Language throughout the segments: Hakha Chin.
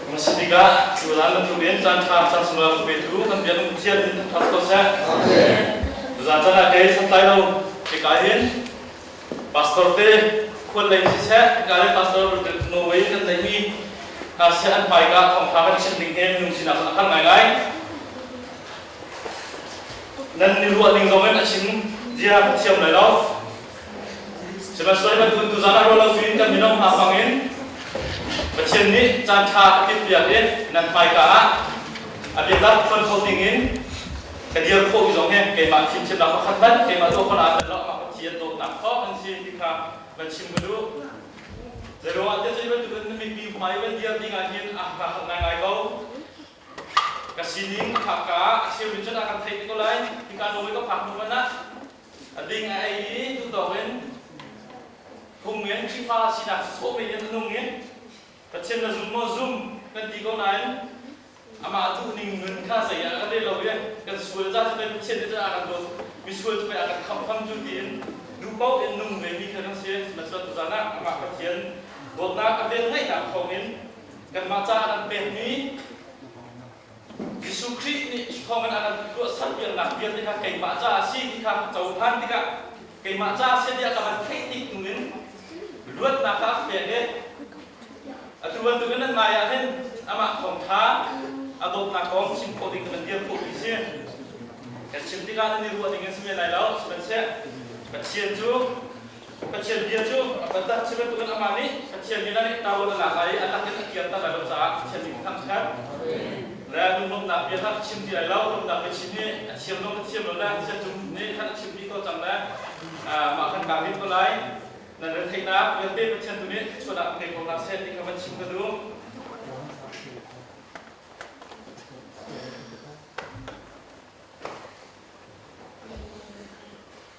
Masa bikah Judah na tluk in caan ṭha caan sungah tuk ve tu kan biak in thian in ṭhat ko seh. Zan caan ah kei santlai lo hika hin pastor te khual lei si seh hika hin pastor Norway kan neihmi Asia an pai ka thawngṭha kan chim ning he minung sinah kan har ngaingai. Nan ni ruah ning zong in a chim zia ka thiam lai lo. Sihmanhsehlaw bantuk tu zan ah ruah lo in kan minung hna bangin Pathian nih caan ṭha a timhpiak i nan hmaika ah a biatak phuan kho dingin ka dir khawhmi zong hi keimah fimthiamnak pakhat hmanh keimah dawhkhon ah nan rawknak Pathian dawtnak thawng an si ti kha van chim ka duh. Zeiruangahtiah cu bantukin na mipi hmai van dir ding ah hin a ka hal ngaingai ko. Ka sining haka ah a cheu in cun a kan theih te ko lai. Hika nawl ka phak hnu hmanh ah A ding a ei i tutawng in phung in Khrihfa sinak sawh men in a nung i Pathian na zum maw? Zum kan ti ko nain amah duhning nun kha zei ah kan rel lo i kan sual ca cu pei Pathian nih a kan dawt, misual cu pei a kan khamhfam cu tiin duh paoh in nung vemi kha kan si. Sihmanhsehlaw tuzan ah amah Pathian dawtnak a velngeihnak thawngin kanmah caah a kan pekmi Jesuh Khrih nih thawngin a kan tuahser piaknak vialte kha keimah caah a si ti kha ka cohlan tikah keimah caah a si tiah ka van theih tik hnu in luatnak kha a ka pek i atu bantukin nan ngaiah hin amah thawngṭha a dawtnak kong chim khawh ding ka van dir khawhmi si. Kan chim tikah nan i ruah ding in si men lai lo, sihmanhseh Pathian cu Pathian bia cu a fanter, cu bantukin amah nih Pathian min ah Taul a lak lai i a lak in a kirter lai lo caah Pathian min thangṭhat. Rel, lunglawmhnak bia kha a chim ti lai lo, rumnak biachim nih a thiam lo, a thiam lo le thianṭum nih khan a thimmi ko cang le mah kan kaa hngilh ko lai. Nan retheihnak vialte Pathian tu nih thluachuah nak ngei ko hna seh ti kha van chim ka duh.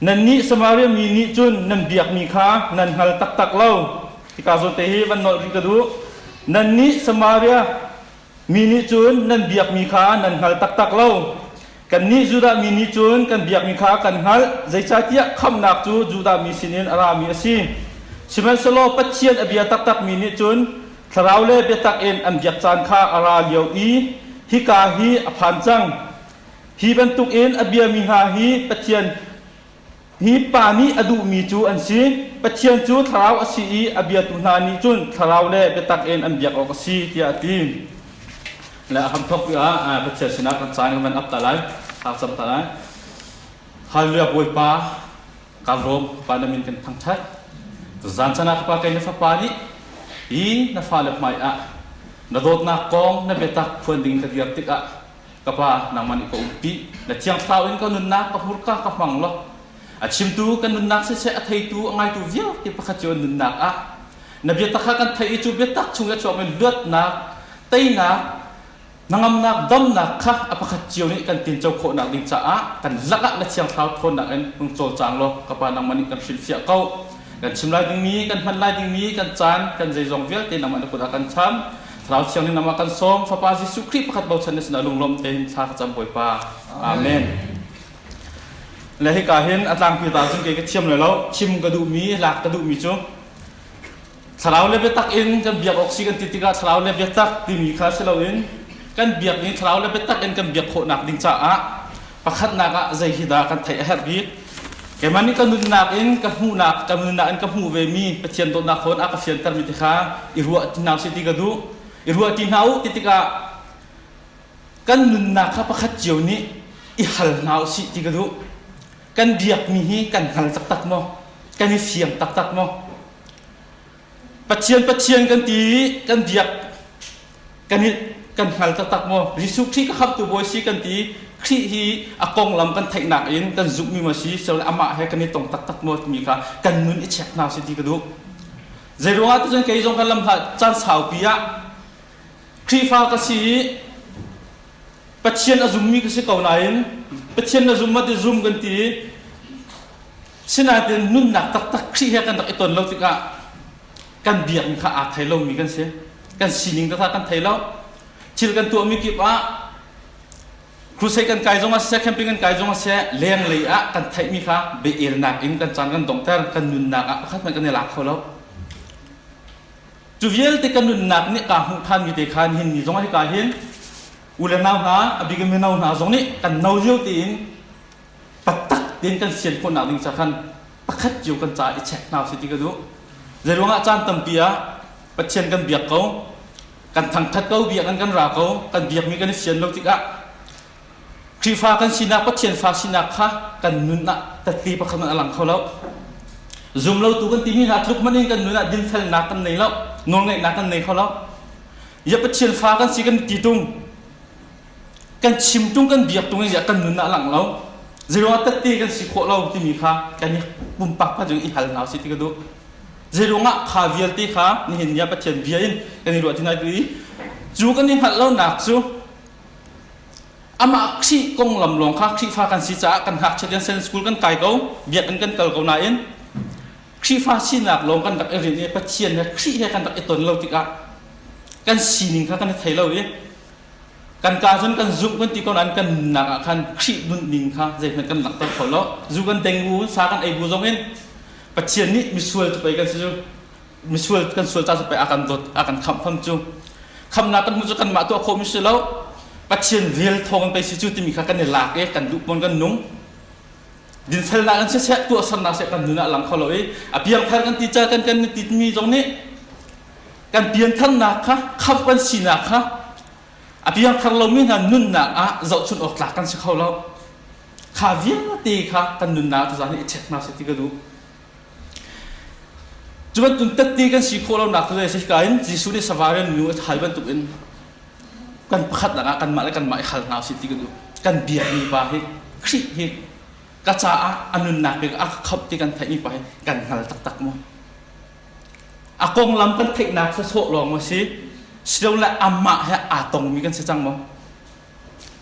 Nannih Samaria mi nih cun nan biakmi kha nan hngal taktak lo. Hika zawnte hi van nolh rih ka duh. Nannih Samaria mi nih cun nan biakmi kha nan hngal taktak lo. Kannih Judah mi nih cun kan biakmi kha kan hngalh, zeicahtiah khamhnak cu Judah mi sinin a rami a si. Sihmanhsehlaw Pathian a bia taktakmi nih cun thlarau le biatak in an biak caan kha a ra lio i hika hi a phan cang. Hi bantukin a biami hna hi Pathian hi pa nih a duhmi cu an si. Pathian cu thlarau a si i a biatu hna nih cun thlarau le biatak in an biak awk a si tiah a ti. Le a hamthok ah Pathian sinah kan caan kan van up ta lai, thak cam ta lai. Halleluja Bawipa, ka lawm pa na min kan thangṭhat. Zan chan ah ka pa kei na fapa nih i na fale hmai ah na dawtnak kong na biatak phuan ding ka dir tikah ka pa nangman i ka um pi na thiangthlau in ka nunnak ka hmurka ka hmang lo a chimtu kan nunnak siseh a theitu a ngaitu vialte pakhat cu nunnak ah na biatak kha kan theih i cu biatak chung i a chuak mi luatnak teinak nangamnak domnak kha a pakhat cio nih kan tinco khawhnak ding caah kan lakah na thiangthlau thawnnak in hmung cawlcang law ka pa nangman nih kan hrilhfiah ko kan chim lai dingmi kan hman lai dingmi kan caan kan zeizong vialte nangman na kut ah kan cham Thlarau Thianghlim lam ah kan sawm fapa Jesuh Khrih pakhat bochan ni sinah lunglawm tein thla ka cam Bawipa. Amen. Le hika hin a tlangpi ta cun kei ka thiam le lo thim ka duhmi lak ka duhmi cu thlarau le biatak in kan biak awk si kan ti tikah thlarau le biatak timi kha si loin kan biak in thlarau le biatak in kan biak khawhnak ding caah Pakhatnak ah zei hi dah kan theih a herh bik? Keimah nih ka nunnak in ka hmuhnak, ka nunnak in ka hmuh ve mi Pathian dawtnak hawn a ka fianter mi te kha i ruah ti hna usih ti ka duh. I ruah ti hna u ti tikah kan nunnak kha pakhat cio nih i hal hna usih ti ka duh. Kan biakmi hi kan hngal taktak maw? Kan i fiang taktak maw? Pathian Pathian kan ti kan diak kan i kan hngal taktak maw Jesuh Khrih ka khamtu bawi si kan ti Khrih hi a konglam kan theihnak in kan zumhmi ma si sel amah he kan i tong taktak maw timi kha kan nun i check hna si ti ka duh zei ruangah tuzan kei zong kan lam hla caan saupi ah Khrihfa ka si i Pathian a zummi ka si ko nain Pathian na zum ma ti zum kan ti Sinain nunnak taktak Khrih he kan rak i ton lo tikah kan biakinn kha aa thei lomi kan si. Kan sining taktak kan thei lo. Thil kan tuahmi kip ah crusade kan kai zong ah siseh, camping kan kai zong ah siseh, lenglei ah kan theihmi kha biaelnak in kan caan kan dongter, kan nunnak ah pakhat hmanh kan i lak kho lo. Cu vialte kan nunnak nih kaa hmuh thanmi te khan hin ni zong ah hika hin u le nau hna, abigamin nau hna zong nih kan no lio tein taktak tein kan fian khawhnak ding ca khan pakhat cio kan ca i check hna usih ti ka duh zeiruangah caan tampi ah pathian kan biak ko kan thangthat ko biak an kan ra ko kan biakmi kan i fian lo tikah Khrihfa kan sinak Pathian fa sinak kha kan nun ah tatli pakhat man a lang kho lo zumlotu kan timi hna tluk man in kan nun ah dinfelnak kan nei lo nawlngaihnak kan nei kho lo ya Pathian fa kan si kan ti tung kan chim tung kan biak tung ziah kan nun ah lang lo zeiro tette kan si khawh lo timi kha kan i pumpak pa jung i hal na si ti ka duh zeiro ngah kha vialte kha nihin nia pathian bia in kan i ruatin ai tu i cu kan i hngalh lo nak cu amah khrih konglam lawng kha khrihfa kan si caah kan hak chalian sen school kan kai ko biakinn kan kal ko nain khrihfa sinak lawng kan rak i rin i pathian he khrih he kan rak i ton lo tikah kan sining kha kan i thei lo i kan kaa cun kan zumh kan ti ko nain kan nunnak ah khan Khrih nun ning kha zeihmanh kan langhter kho lo zu kan dengu sa kan ei bu zong in Pathian nih misual cu pei kan si cu misual kan sual ta cu pei a kan dawt a kan khamh fam cu khamnak kan hmu cu kanmah tuah khawh mi si lo Pathian vel thawng kan si cu timi kha kan i lak i kan duh mon kan nung dinfelnak kan si seh tuahsernak seh kan nun ah lang kho lo i a piangthar kan ti ca kan kan ti timi zong nih kan piantharnak kha khamh kan sinak kha a piangthar lomi hna nunnak ah zohchunh awk tlak kan si kho lo kha vialte kha kan nunnak tu zan hi check hna sih ti ka duh cu bantuk tatte kan si khawh lonak tu zai ka in Jesuh nih savarian nu a thai bantuk in kan pakhatnak ah kanmah le kanmah i hal hna sih ti ka duh kan biakmi pa hi Khrih hi ka caah a nunnak bik a khamh ti kan theihmi pa hi kan hngal taktak maw A konglam kan theihnak cu sawh lawng a si. Silole amah he aa tongmi kan si cang maw?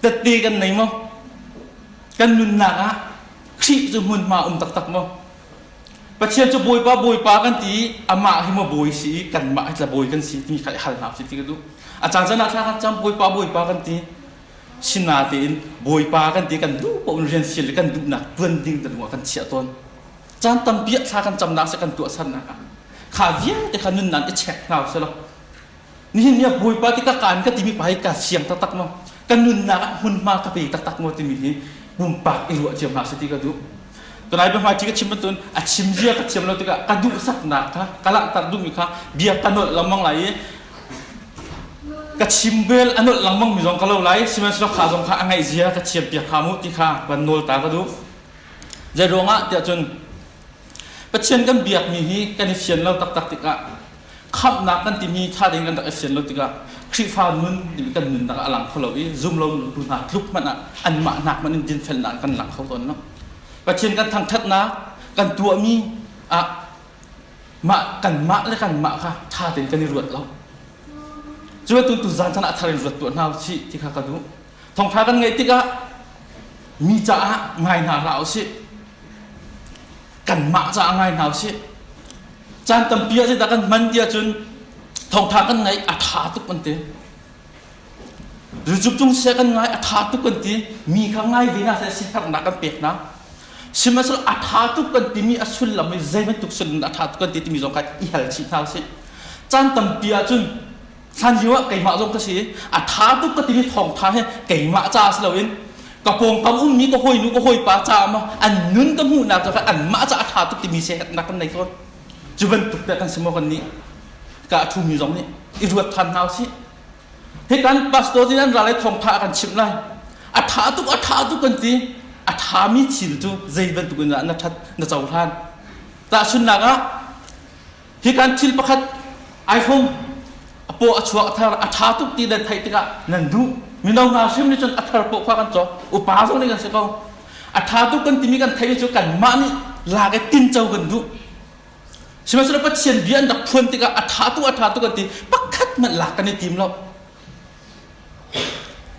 Tette kan nei maw? Kan nunnak ah Khrih cu hmunhma um taktak maw? Pathian cu Bawipa Bawipa kan ti i amah hi maw bawi si i kanmah hi tla bawi kan si timi kha i hal hna u si ti ka duh. A caan can ah thla khat cang Bawipa Bawipa kan ti. Sinatein Bawipa kan ti kan duh paoh in rian sial le kan duhnak tuan ding te dingah kan chiah tawn. caan tampi thla kan camnak se kan tuahsannak ah kha vialte kha nun nan i check hna selaw nihin nia bawipa ti ka kaan ka timi pa hi ka siang taktak mo kan nunnak ah hmunhma ka pe taktak mo timi hi pumpak i ruah cio hna se ti ka duh tunai ba hma ti ka chim tun a chim zia ka thiam lo tikah ka duh saknak kha ka langhtar duhmi kha bia ka nolh lengmang lai i ka chim vel a nolh lengmang mi zong ka lo lai sihmanhsehlaw kha zong kha a ngaih zia ka thiam piak kha mu ti kha kan nawl ta ka duh Zei ruangah tiah cun Pathian kan biakmi hi kan i fian lo taktak tikah khamhnak kan timi tha ding kan rak i fian lo tikah Khrihfa nun nih kan nunnak ah a lang kho lo i zum lo tu hna tluk hmanh ah anmah hnak hmanh in dinfelnak kan lak kho tawn lo. Pathian kan thangthatnak kan tuahmi ah mah kanmah le kanmah kha tha tein kan i ruat lo. Cu tu zan chan ah thar in ruat tuah hna u sih ti kha ka duh. Thawngṭha kan ngaih tikah mi caah ngai hna hlah u sih. Kanmah caah ngai hna u sih. Caan tampi ah zeidah kan hman ti ahcun thawngṭha kan ngaih a ṭha tuk an ti. Rucuk cung sia kan ngai a ṭha tuk kan ti. Mi kha ngai ve hna seh sihernak kan pek hna. Sihmanhsehlaw a ṭha tuk kan timi a sullam hi zei bantuk sullam dah a ṭha tuk kan ti timi zong kha i hal chih hna u sih. Caan tampi ahcun hlan lio ah keimah zong ka si a tha tuk ka timi thawngtha he keimah ca si loin ka pawngkam ummi ka hawinu ka hawipa ca ma an nun ka hmuhnak cu an mah ca a tha tuk timi se nak kan nei tawn cu bantuk te kan si mo kan nih ka a thumi zong nih i ruat than hna si hi kan pastor din an ra lai thawngtha kan chim lai a tha tuk a tha tuk kan ti a thami thil cu zei bantuk in dah na that na cohlan ta sunnak ah Hi kan thil pakhat iPhone a paw a chuak a thar a ṭha tuk ti nan theih tikah nan duh mino hna hrim nih cun a thar paw kha kan cawk upa zong nih kan si ko a ṭha tuk kan timi kan theih cu kanmah nih lak i tinco kan duh sihmanhsehlaw Pathian bia an rak phuan tikah a ṭha tuk a ṭha tuk an ti pakhat hmanh lak kan i tim lo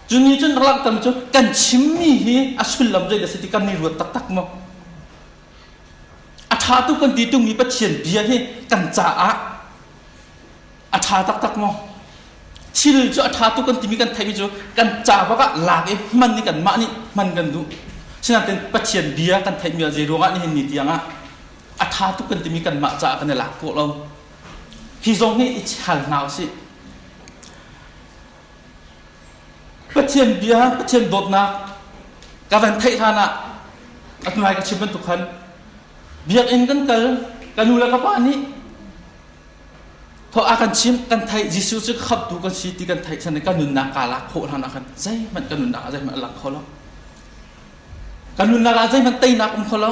cu ni cun rak tam cu kan chimmi hi a sullam zei da si ti kan ni ruat taktak maw A ṭhatu kan ti tungmi Pathian bia hi kan caah a ṭha taktak maw? Thil cu a ṭhatu kan timi kan theihmi cu kan ca bak ah lak i hman i kanmah nih hman kan duh. Sinain Pathian bia kan theihmi ah zei ruangah nihin ni tiang ah a ṭhatu kan timi kanmah caah kan i lak kawh lo. Hi zong hi i hal hna u sih. Pathian bia, Pathian dawtnak ka van theih hlan ah a hnulai ka chim bantuk khan biakinn kan kal ka nu le ka pa nih thawh a kan chim kan theih Jesuh cu khamtu kan si ti kan theih chan kan nunnak ka lak khawh hlan ah khan zeihmanh ka nunnak ah zeihmanh a lang kho lo ka nunnak ah zeihmanh teinak um kho lo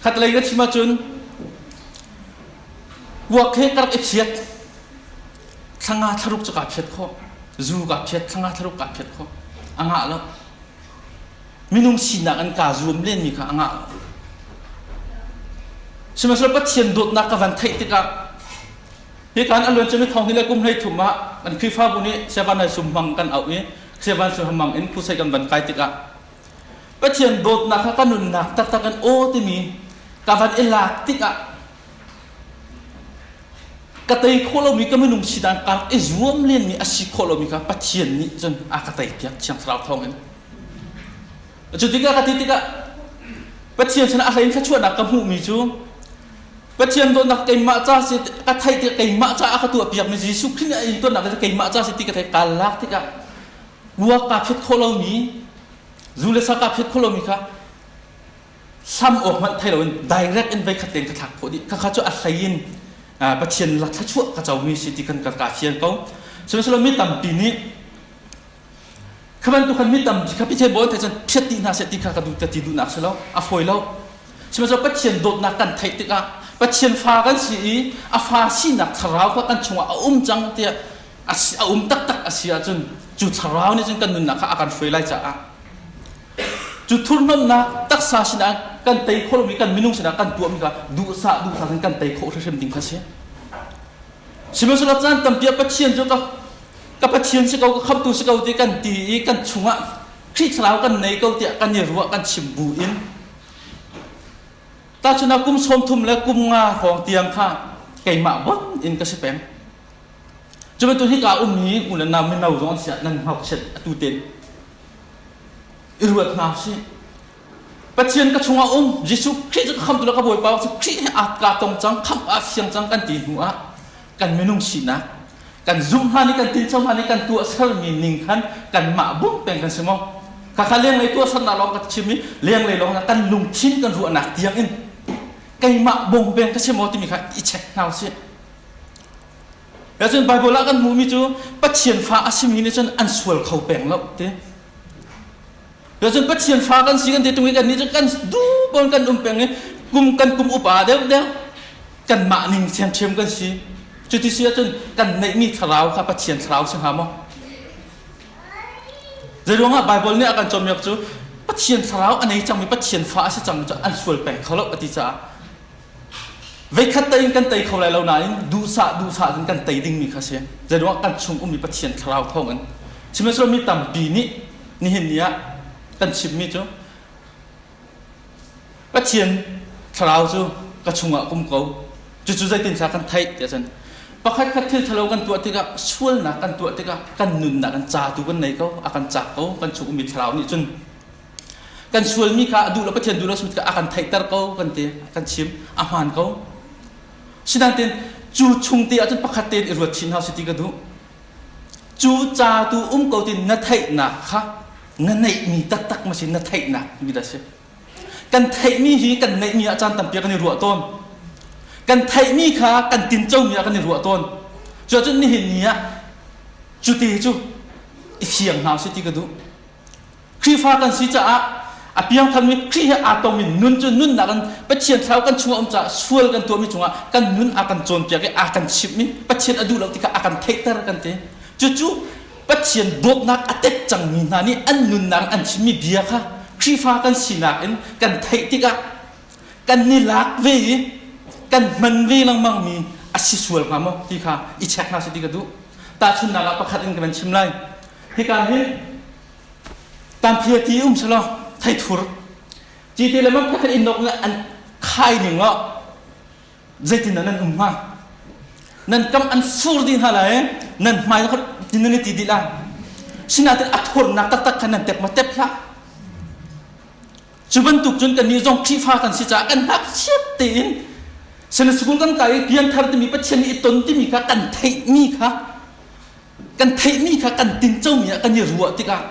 khat lei ka chim ahcun kuak he ka rak i phiat Thlanga thlaruk cu kaa phiat khawh. Zu kaa phiat, thlanga thlaruk kaa phiat khawh. A ngah lo. Minung sinak in kaa zuam lenmi kha a ngah lo. Sihmanhsehlaw Pathian dawtnak ka van theih tikah hika an aluan cami thawng hi le kum hlei thum ah kan Khrihfabu nih Siavan nai sum hmang kan auh i Siavan sum hmang in Crusade kan van kai tikah Pathian dawtnak kha ka nunnak taktak in aw timi ka van i lak tikah ka tei khawh lomi ka minung si dan kar i zuam lenmi a si khawh lomi kha Pathian nih cun a ka tei piak thiang thlarau thawngin cu tikah ka ti tikah Pathian sana a hlein thluachuahnak ka hmuhmi cu Pathian dawtnak keimah ca si ka theih tikah keimah ca a ka tuah piakmi Jesuh Khrih nih a intonnak keimah ca si ti ka theih ka lak tikah buak kaa phet kho lomi zu le sa kaa phet kho lomi kha sam awk hmanh thai loin direct in veikhat tein ka thlak khawh dih khakha cu a hlei in pathian la thlachuah ka comi si ti kan ka ka fian ko sihmanhsehlaw mi tampi nih kha bantukan mi tampi kha pichai bawi thai cun phiat ti hna se ti kha ka duh ti duhnak si lo a fawi lo sihmanhsehlaw pathian dawtnak kan theih tikah pathian fa kan si i a fa sinak thlarau kha kan chungah a um cang tiah a um taktak a si ahcun cu thlarau nih cun kan nunnak kha a kan hruai lai caah cu thurhnomnak taksa sinah kan tei kholomi kan minung sinah kan tuahmi kha duhsah duhsah in kan tei khawh hrimhrim ding kha a si sihmanhsehlaw caan tampi ah pathian cu ka ka pathian si ko ka khamtu si ko ti kan ti i kan chungah Khrih thlarau kan nei ko tiah kan i ruah kan chim bu in tahchun kum sawmthum le kum nga hrawng tiang kha keimah bot in ka si peng cu bantuk hi ka um hi u le nau mino zong an siah nan ngakchiat atu ten i ruat hna sih. Pathian ka chungah um Jesuh Khrih cu khamtu le ka bawipa cu Khrih he aa tlak tong cang khamh ah siang cang kan ti hnu ah kan minung sinak kan zumh hlan i kan tinco hlan i kan tuahsermi ning khan kanmah bum peng kan si maw khakha lenglei tuahsernak lawng ka chim i lenglei lawng kan lungthin kan ruahnak tiang in keimah bawng peng ka si maw timi kha i check hna u sih Cun Bible ah kan hmuhmi cu Pathian fa a simi nih cun an sual kho peng lo ti. Cun Pathian fa kan si kan ti tung i kan nih cu kan duh bon kan um peng i kum kan kum upa deuh deuh kan mah ning thiamthiam kan si. Cuti si ahcun kan neihmi thlarau kha Pathian thlarau si hnga maw? Zei ruangah Bible nih a kan cawmiak cu Pathian thlarau a nei cangmi Pathian fa a si cang cu an sual peng kho lo a ti caah Veikhat tein kan tei kho lai lo nain duhsah duhsah in kan tei dingmi kha a si. Zeiruangah kan chung ummi Pathian thlarau thawng in. Sihmanhsehlaw mi tampi nih nihin ni ah kan chimmi cu Pathian thlarau cu ka chungah kum ko. Cucu zeitindah kan theih tiah cun pakhat khat thil thalo kan tuah tikah sualnak kan tuah tikah kan nunnak kan ca tu kan nei ko a kan cak ko kan chung ummi thlarau nih cun kan sualmi kha a duh le Pathian duh lo simi a kan theihter ko kan ti kan chim a hmaan ko sinain cu chung te ahcun pakhat te i ruat chin hau si ti ka duh cu ca tu um ko ti na theihnak kha na neihmi taktak ma si na theihnak mi da si kan theihmi hi kan neihmi ah caan tampi kan i ruah tawn kan theihmi kha kan tincomi ah kan i ruah tawn cuacun nihin ni ah cute cu i fiang hau si ti ka duh Khrihfa kan si caah a piangthanmi Khrih he aa tong in nun cu nunnak in Pathian thlau kan chung a um caah sual kan tuahmi cungah kan nun a kan cawnpiak i a kan chimhmi Pathian a duh lo ti kha a kan theihter kan ti. Cucu Pathian dawtnak a tet cangmi hna nih an nunnak an chimmi bia kha Khrihfa kan sinak in kan theih tikah kan ni lak ve i kan hman ve lengmangmi a si sual hnga maw ti kha i check hna sih ti ka duh. Tahchunhnak ah pakhat in ka van chim lai. Hika hi tampi ti um selaw theithur ti ti le man pakhat in nok an khai ning lo zeitin nan um hnga nan kam an fur di hna la e nan hmai khot tin nan ti di la sinatin athurnak taktak khan nan tep ma tep hla cu bantuk cun kan ni zong khrifa kan si ca kan hak siat tein sena sukung kan ka i pian thar timi pathian i ton timi kha kan theih mi kha kan theihmi kha kan tincomi ah kan i ruah tikah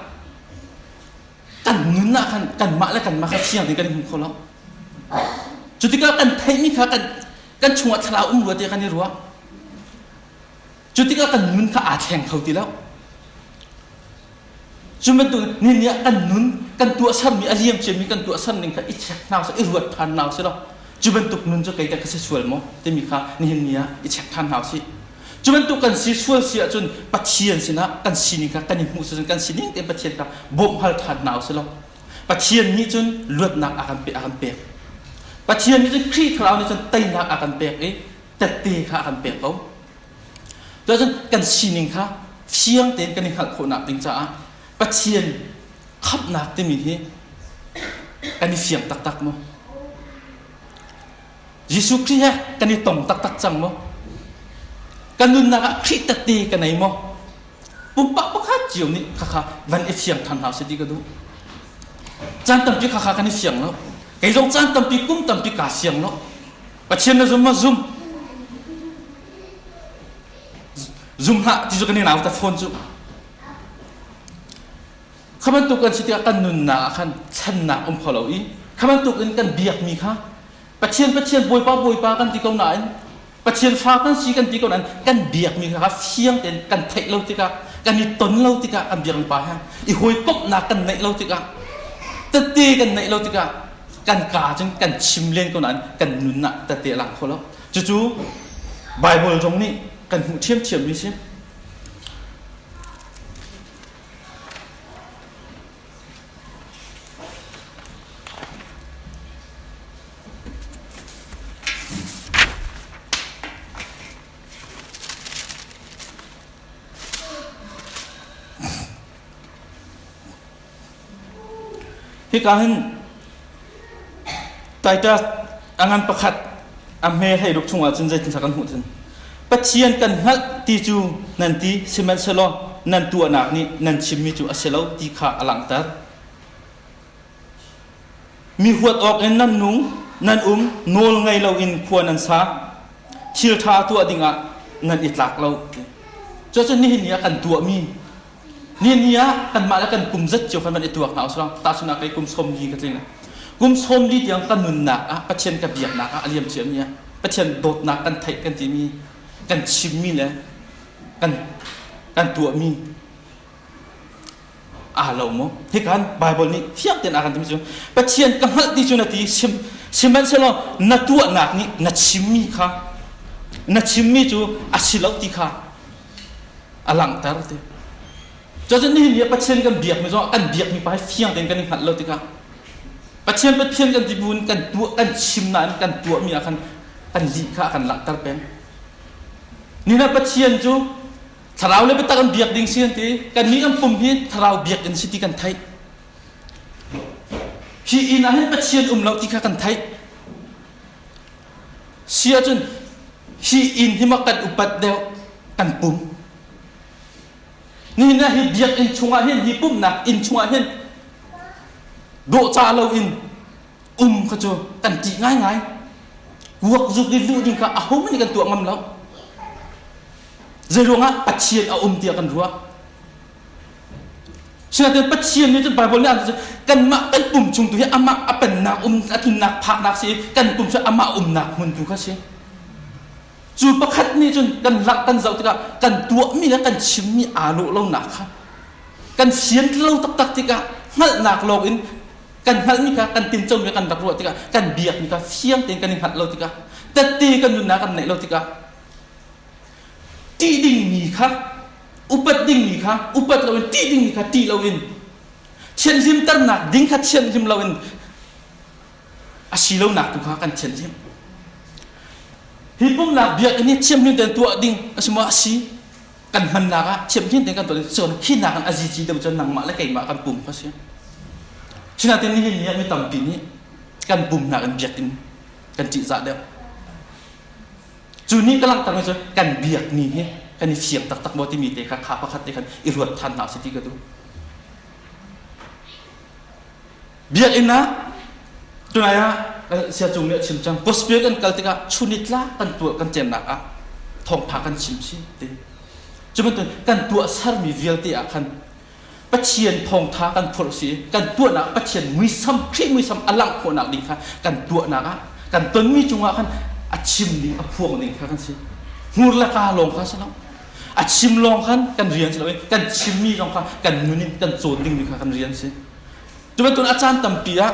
kan nun ah khan kanmah le kanmah kha fiang in kan i hmu kho lo cu tikah kan theihmi kha kan kan chungah thlarau um rua tiah kan i ruah cu tikah kan nun kha aa thleng kho ti lo Cu bantuk ni nih kan nun kan tuahsermi a liam ciami kan tuahser ning kha i check hna usih, i ruat ṭhan hna usih law cu bantuk nun cu kei dah ka si sual maw timi kha nihin ni ah i check ṭhan hna usih. Cu bantuk kan si sual si ahcun Pathian sinah kan sining kha kan i hmuh sishin kan sining tein Pathian kha bawmhhal ṭhan hna usih law Pathian nih cun luatnak a kan pek a kan pek. Pathian nih cun Khrih Thlarau nih cun teinak a kan pek i tette kha a kan pek ko. Cun kan sining kha fiang tein kan i hngalh khawhnak ding caah Pathian khamhnak timi hi kan i fiang taktak maw? Jesuh Khrih he kan i tong taktak cang maw? Kan nunnak ah Khrih tette ka nei maw? Pumpak pakhat cio nih khakha van i fiang than hau se ti ka duh. Caan tampi khakha kan i fiang lo. Kei zong caan tampi kum tampi kaa fiang lo. Pathian na zum ma zum zum hlah ti cu kan i nau ta fawn cu kha bantuk kan si tikah kan nunnak ah khan channak um kho lo i kha bantuk in kan biakmi kha Pathian Pathian Bawipa Bawipa kan ti ko nain Pathian fa kan si kan ti ko nain kan biakmi kha fiang tein kan theih lo tikah kan i ton lo tikah kan biakmi pa he i hawikomhnak kan neih lo tikah tette kan neih lo tikah kan ka ahcun kan chim len ko nain kan nun ah tete lang kho lo cucu Bible zong nih kan hmuh ṭhiamṭhiam mi si Hika hin taita angan pakhat a hme hlei ruk chungah cun zeitin kan hmuh thin Pathian kan hngalh ti cu nan ti sihmanhsehlaw nan tuahnak nih nan chimmi cu a si lo ti kha a langhter mi huat awk in nan nung nan um nawl ngei loin khua nan sa thil ṭha tuah dingah nan i tlak lo cucu nihin ni ah kan tuahmi ni ni ah kanmah le kan kum zat cio kan van i tuak hna usang tahchunak kei kum sawm li ka tling kum sawm li tiang ka nunnak ah pathian ka biaknak ah a liam ciami ah pathian dawtnak kan theih kan timi kan chimmi le kan kan tuahmi aa lo mo hikan bible nih fiak ten akan timi cu pathian ka hngalh ti cu na ti sim sihmanhsehlaw na tuahnak nih na chimmi kha na chimmi cu a si lo ti kha a langhter ti cun nihin ni Pathian kan biak mi zong kan biak mi pa hi fiang tein kan i hngalh lo tikah Pathian Pathian kan ti bu in kan tuah kan chim na in kan tuah mi ah khan kan lih kha kan langhter peng nina Pathian cu thlarau le biatak an biak ding si an ti kan nih an pum hi thlarau biak in si ti kan theih hi ina hin Pathian um lo ti kha kan theih Si ahcun hi inn hi ma kan upat deuh kan pum ni na hi biakinn chungah hin hi pumhnak inn chungah hin dawhcah loin um kha cu kan tih ngaingai kuak zuk i luh ding kha a ho nih kan tuah ngam lo zei ruangah pathian a um tiah kan ruah Siatin Pathian nih cun Bible nih a kanmah kan pum chung tu hi amah a pennak um a tlinnak phaknak si kan pum cu amah umnak hmun tu kha si. Cu pakhat nih cun kan lak kan zoh tikah kan tuahmi le kan chimmi aa lawh lonak kha kan sian lo taktak tikah hngalhnak lawng in kan hngalhmi kha kan tincomi kan rak ruah tikah kan biakmi kha fiang tein kan i hngalh lo tikah tette kan nunnak kan neih lo tikah ṭih dingmi kha upat dingmi kha upat loin ṭih dingmi kha ṭih loin thianhlimternak ding kha thianhlim loin a si lonak tu kha kan thianhlim hi pumhnak biakinn hi thiamhlim tein tuah ding a si maw a si kan hmannak ah thiamhlim tein kan tuah ding cun khinak kan azizi deuh cun nangmah le keimah kan pum kha si sinatin ni hi mi tampi nih kan pumnak in biakinn kan ṭihzah deuh cu ni ka langhter mi cu kan biak ni hi kan i siang taktak maw timi te kha kha pakhat te khan i ruat than hna si ti ka duh biakinn ah tunai ah sia cung nih a chim cang gospel kan kal tikah chunitla kan tuah kan cennak ah thawngtha kan chim si te cu bantuan kan tuah sermi vialte ah khan Pathian thawngtha kan phurh si kan tuahnak Pathian muisam khrih muisam a langh khawhnak ding kha kan tuahnak ah kan tonmi cungah khan a chim ning a phuang ning kha kan si hmur le ka lawng kha si lo a chim lawng khan kan rian si lo i kan chimmi zong kha kan nun in kan cawn ding mi kha kan rian si cu bantuk a caan tampi ah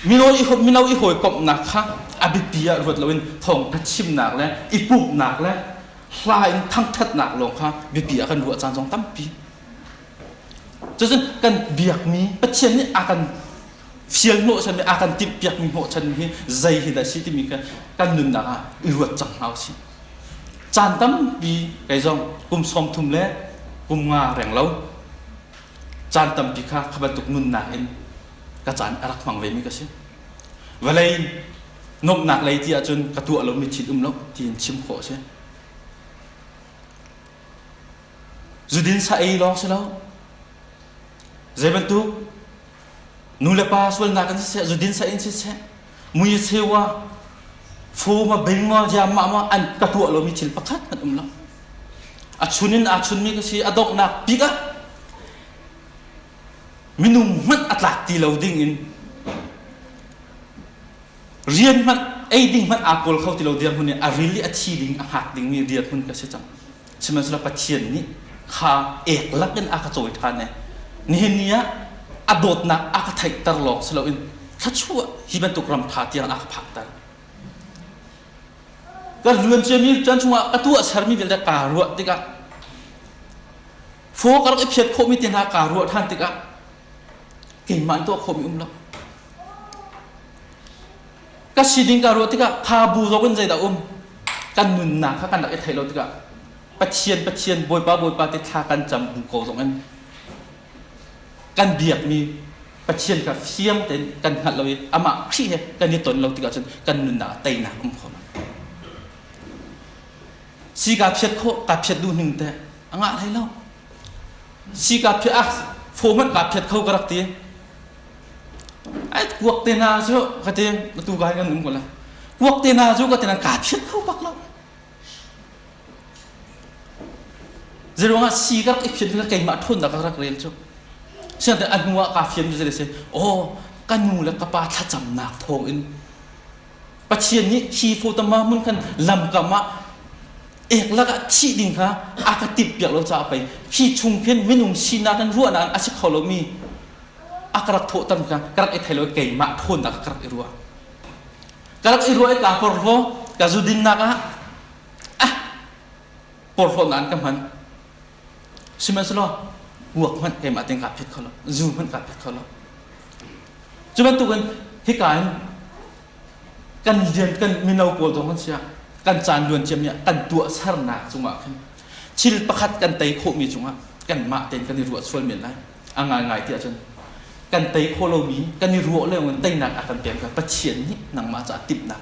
mino i mino i hawikomhnak kha a biapi ah ruat loin thawngtha chimnak le i pumhnak le hla in thangṭhatnak lawng kha biapi ah kan ruah caan zong tampi cucun kan biakmi pathian nih a kan fial hnawh chan a kan timhpiakmi hnawh chan hi zei hi dah si timi kha kan nunnak ah i ruat cang hna usih caan tampi kei zong kum sawm thum le kum nga reng lo caan tampi kha kha bantuk nunnak in ka caan a rak hmang vemi ka si vawlei nuamhnak lei ti ahcun ka tuah lo mi thit um lo tiin chim khawh a si zudin sa ei lawng si lo zei bantuk nu le pa sualnak kan si seh zudin sa in si seh mui sewa fu ma bing ma jam ma ma an ka tuah lo mi thil pakhat kan um lo a chun in aa chun mi ka si a donghnak bik ah minung hmanh a tlak ti lo ding in rian hmanh ei ding hmanh aa kawl kho ti lo dirhmun nih a ril i a thi ding a hngak dingmi rianhmun ka si cang sihmanhsehlaw pathian nih kha ek lakin a ka cawi ṭhan e nihin ni ah a dawtnak a ka theihter lawng si loin thlachuah hi bantuk ram ṭha tiang a ka phakter ka luan ciami can chungah ka tuah sermi vialte kaa ruah tikah Phaw ka rak i phiat khawhmi te hna kaa ruah ṭhan tikah keimah in tuah khawhmi um lo. Ka siding kaa ruah tikah kha bu zong in zeidah um kan nunnak kha kan rak i thei lo tikah Pathian Pathian Bawipa Bawipa te thla kan cam bu ko zong in kan biakmi Pathian kha fiang tein kan hngalh lo i amah Khrih he kan i ton lo tikah cun kan nunnak ah teinak um kho lo. Si kaa phiat khawh, kaa phiat duh ning teh a ngah hlei lo si ka phiat ah foman ka phiat kho ka rak ti ai kuak te na cu ka ti na tu ka kan num ko la kuak te na cu ka ti na ka phiat kho bak lo zeruang ah si ka rak i phiat ka keimah thon da ka rak rel cu sian te anu ah ka fian zu se oh kan nu le ka pa thlacamnak thawng in Pathian nih hi photama mun kan lam kam ah ek lakah thih ding kha a ka timh piak lo caah pei khi chung khin minung sinak in ruahnak a si kho lomi a ka rak thawhtam kha ka rak i thei lo keimah thawnnak ka rak i ruah ka rak i ruah i ka porhlaw ka zudinnak ah ah porhlawnaan ka hman sihmanhsehlaw guak hmanh keimah ting kaa phet kho lo zu hmanh kaa phet kho lo cu bantukin hika in kan rian kan mino pawl zong kan si ah kan caan luan ciam nih kan tuahsernak cungah khin thil pakhat kan tei khawhmi cungah kanmah tein kan i ruah sual men lai a ngaingai ti ahcun kan tei khawh lomi kan i ruah lengin teinak a kan pek ka Pathian nih nangmah caah timhnak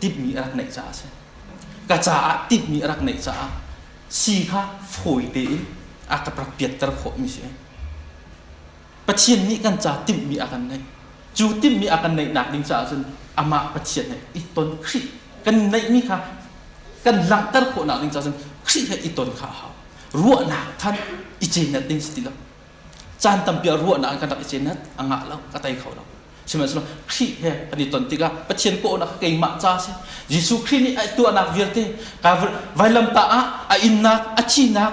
timhmi a rak neih caah a si ka caah timhmi a rak neih caah si kha fawi tein a ka rak piatter khawhmi si Pathian nih kan ca timhmi a kan neih. Cu timhmi a kan neihnak ding caah cun amah Pathian he i ton Khrih kan neihmi kha kan langhter khawhnak ding caah cun Khrih he i ton kha a hau. Ruahnak thanh i cenat ding si ti lo. Caan tampi ah ruahnak in kan rak i cenat a ngah lo, a tei kho lo. Sihmanhsehlaw Khrih he kan i ton tikah Pathian kawhnak keimah ca a si. Jesuh Khrih nih a tuahnak vialte vailamtah ah a innak, a thihnak,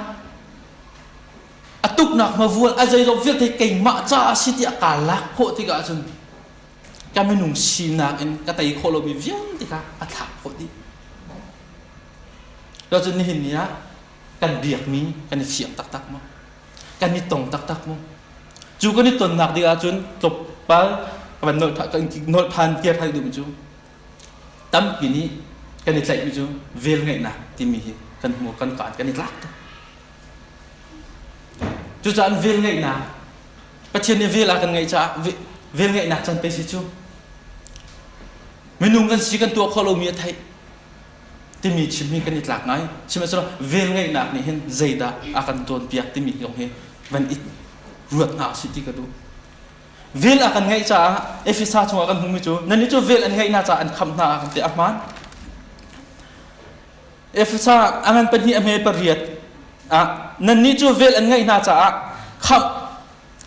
a tuknak hmavual a zeilawk vialte keimah ca a si tiah kaa lak khawh tikah cun ka minung sinak in ka tei khawh lomi vialte kha a thlak khawh dih to cun nihin ni ah kan biakmi kan i fiak taktak maw kan i tong taktak maw cu kan i tonnak ding ahcun tlawmpal kan nolh than kir than duh cu tampi nih kan i tlaihmi cu velngeihnak timi hi kan hmuh kan kaan kan i tlak tuk cucaah velngeihnak pathian nih vel a kan ngeih caah velngeihnak can pe si cu minung kan si kan tuah khawh lomi a theih timi chim hi kan i tlak ngai sihmanhsehlaw velngeihnak nih hin zeidah a kan cawnpiak timi zong hi van i ruat hna si ti ka duh vel a kan ngeih caah Efesa chungah kan hmumi cu nannih cu vel an ngeihnak caah an khamh hna a kan ti a hmaan Efesa a ngan pahnih a hme pariat ah nannih cu vel an ngeih hna caah khamh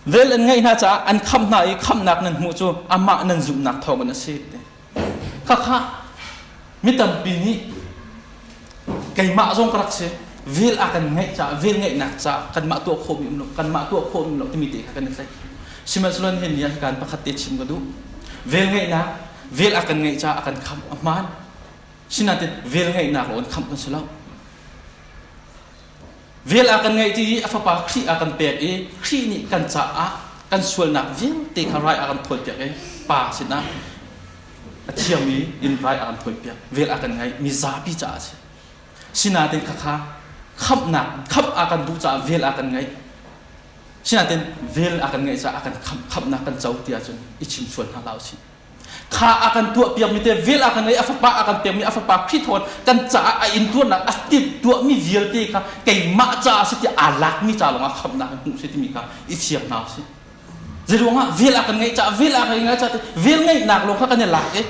vel an ngeih hna caah an khamh hna i khamhnak nan hmuh cu amah nan zumhnak thawngin a si Khakha mi tampi nih keimah zong ka rak si vel a kan ngeih caah vel ngeihnak caah kanmah tuah khawhmi um lo kanmah tuah khawhmi lo timi te kha kan i tlaih sihmanhsehlaw he ni ah hikan pakhat te chim ka duh vel ngeihnak vel a kan ngeih caah a kan khamh a hmaan sinain vel ngeihnak lo in khamh kan si lo Vel a kan ngeih i a fapa Khrih a kan pek i Khrih nih kan caah kan sualnak vialte kha rai a kan phawtpiak i pa sinah a thiangmi in rai a kan phawtpiak vel a kan ngeih mi zapi caah a si sinain khakha khamhnak khamh a kan duh caah vel a kan ngeih sinain vel a kan ngeih caah a kan khamh khamhnak kan co ti ahcun i chim sual hna hlah u sih kha a kan tuah piakmi te vel a kan ei a fapa a kan pekmi a fapa Khrih thawn kan caah a intuarnak a tit tuahmi vialte kha keimah caah si tiah aa lakmi ca lawngah khamhnak hmuh si timi kha i fiang hna usih zeiruangah vel a kan ngeih caah vel a kan ngeih caah vel ngeihnak lawng kha kan i lak i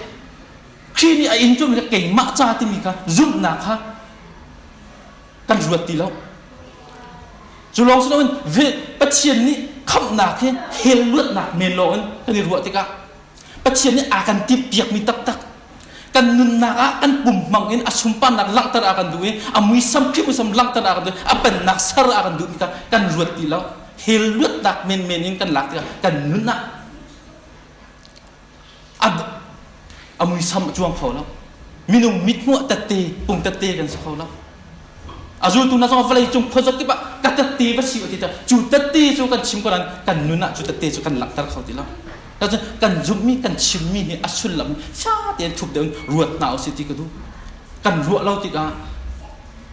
Khrih nih a in ṭumi kha keimah ca timi kha zumhnak kha kan ruat ti lo cu lawng si loin Pathian nih khamhnak hi hell luatnak men lawng in kan i ruah tikah Pathian nih aa kan timhpiakmi taktak kan nunnak ah kan pum hmang in a sunparnak langhter a kan duh i a muisam hrimuisam langhter a kan duh i a pennak ser a kan duh mi kha kan ruat ti lo hell luatnak menmen in kan lak tikah kan nun ah a muisam a cuang kho lo minung mithmuh tette pung tette kan si kho lo a zultu hna zong vawlei cung khuazak kip ah ka tette va si ti ta cu tette cu kan chim ko nan kan nun ah cu tette cu kan langhter kho ti lo kan zumhmi kan chimmi hi a sullam sha tein thup deuh ruat hna u si ti ka duh kan ruah lo tikah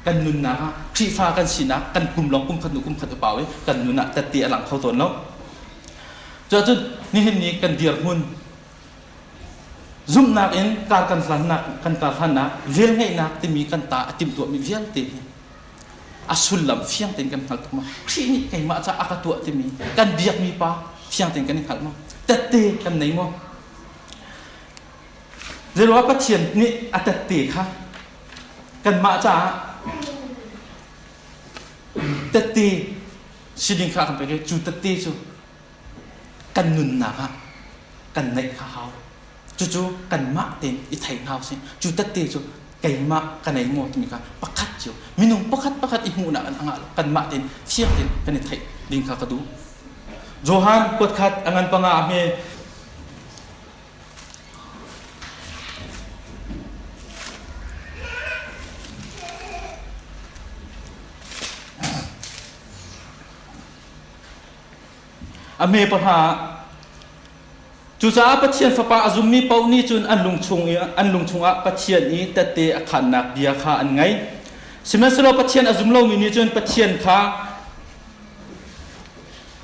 kan nunnak ah Khrihfa kan sinak kan kum long kum khat nu kum khat upa we kan nunah tette a lang kho tawn lo Cuacun nihin ni kan dirhmun zumhnak in kar kan hlannak kan kar hlannak velngeihnak timi kan ta a timtuahmi vialte hi a sullam fiang tein kan hngalh tuk ma Khrih nih keimah ca a ka tuah timi kan biakmi pa fiang tein kan i hngalh ma tette kan nei maw zeiruangah Pathian nih a tette kha kanmah caah tette si ding kha kan pek i cu tette cu kan nunnak ah kan neih a hau cucu kanmah tein i thei hna usih cu tette cu keimah ka nei maw timi kha pakhat cio minung pakhat pakhat i hmuhnak kanmah tein fiang tein kan i theih ding kha ka duh johan kuat khat angan panga ahme A hme pahra ah Cucaah Pathian Fapa a zummi paoh nih cun an lung chung i an lung chungah Pathian i tette a khannak bia kha an ngaih. Sihmanhsehlaw Pathian a zum lomi nih cun Pathian kha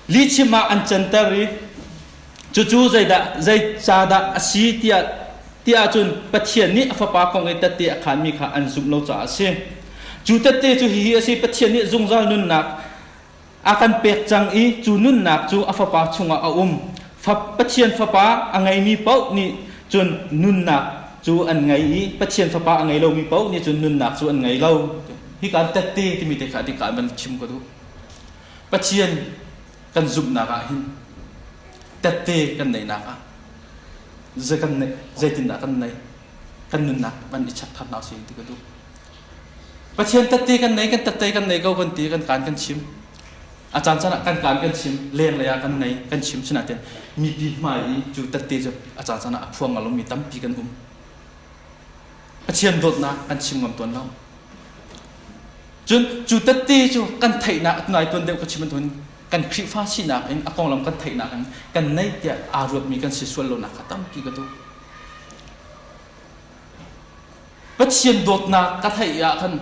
lihchim ah an canter i cucu zeidah zei ca dah a si tiah tiah cun Pathian nih a fapa kong i tette a khanmi kha an zumh lo caah a si. Cu tette cu hihi a si Pathian nih zungzal nunnak a kan pek cang i cu nunnak cu a fapa chungah a um Fa, Pathian fapa a ngeimi paoh nih cun nunnak cu an ngei i Pathian fapa a ngei lomi paoh nih cun nunnak cu an ngei lo hika an tet te timi te kha a tika an van chim ko duh Pathian kan zumhnak ah hin tette kan neihnak ah zei kan neih zeitindah kan neih kan nunnak van i chap tharnak si ti ka duh Pathian tatte kan nei, kan tatte kan nei ko kan ti kan kaan kan chim. A caan caan ah kan kaan kan chim, lenglei ah kan nei kan chim sinah ten mipi hmai i cu tatte cu a caan caan ah a phuang ngalom mi tampi kan um. Pathian dawtnak kan chim ngam tuan lo. Cun cu tatte cu kan theihnak nai tuan deuh ka chim tuan kan Khrihfa sinak in a konglam kan theihnak in kan nei tiah aa ruatmi kan si sual lonak kha tampi ka tu. Pathian dawtnak ka theih ah khan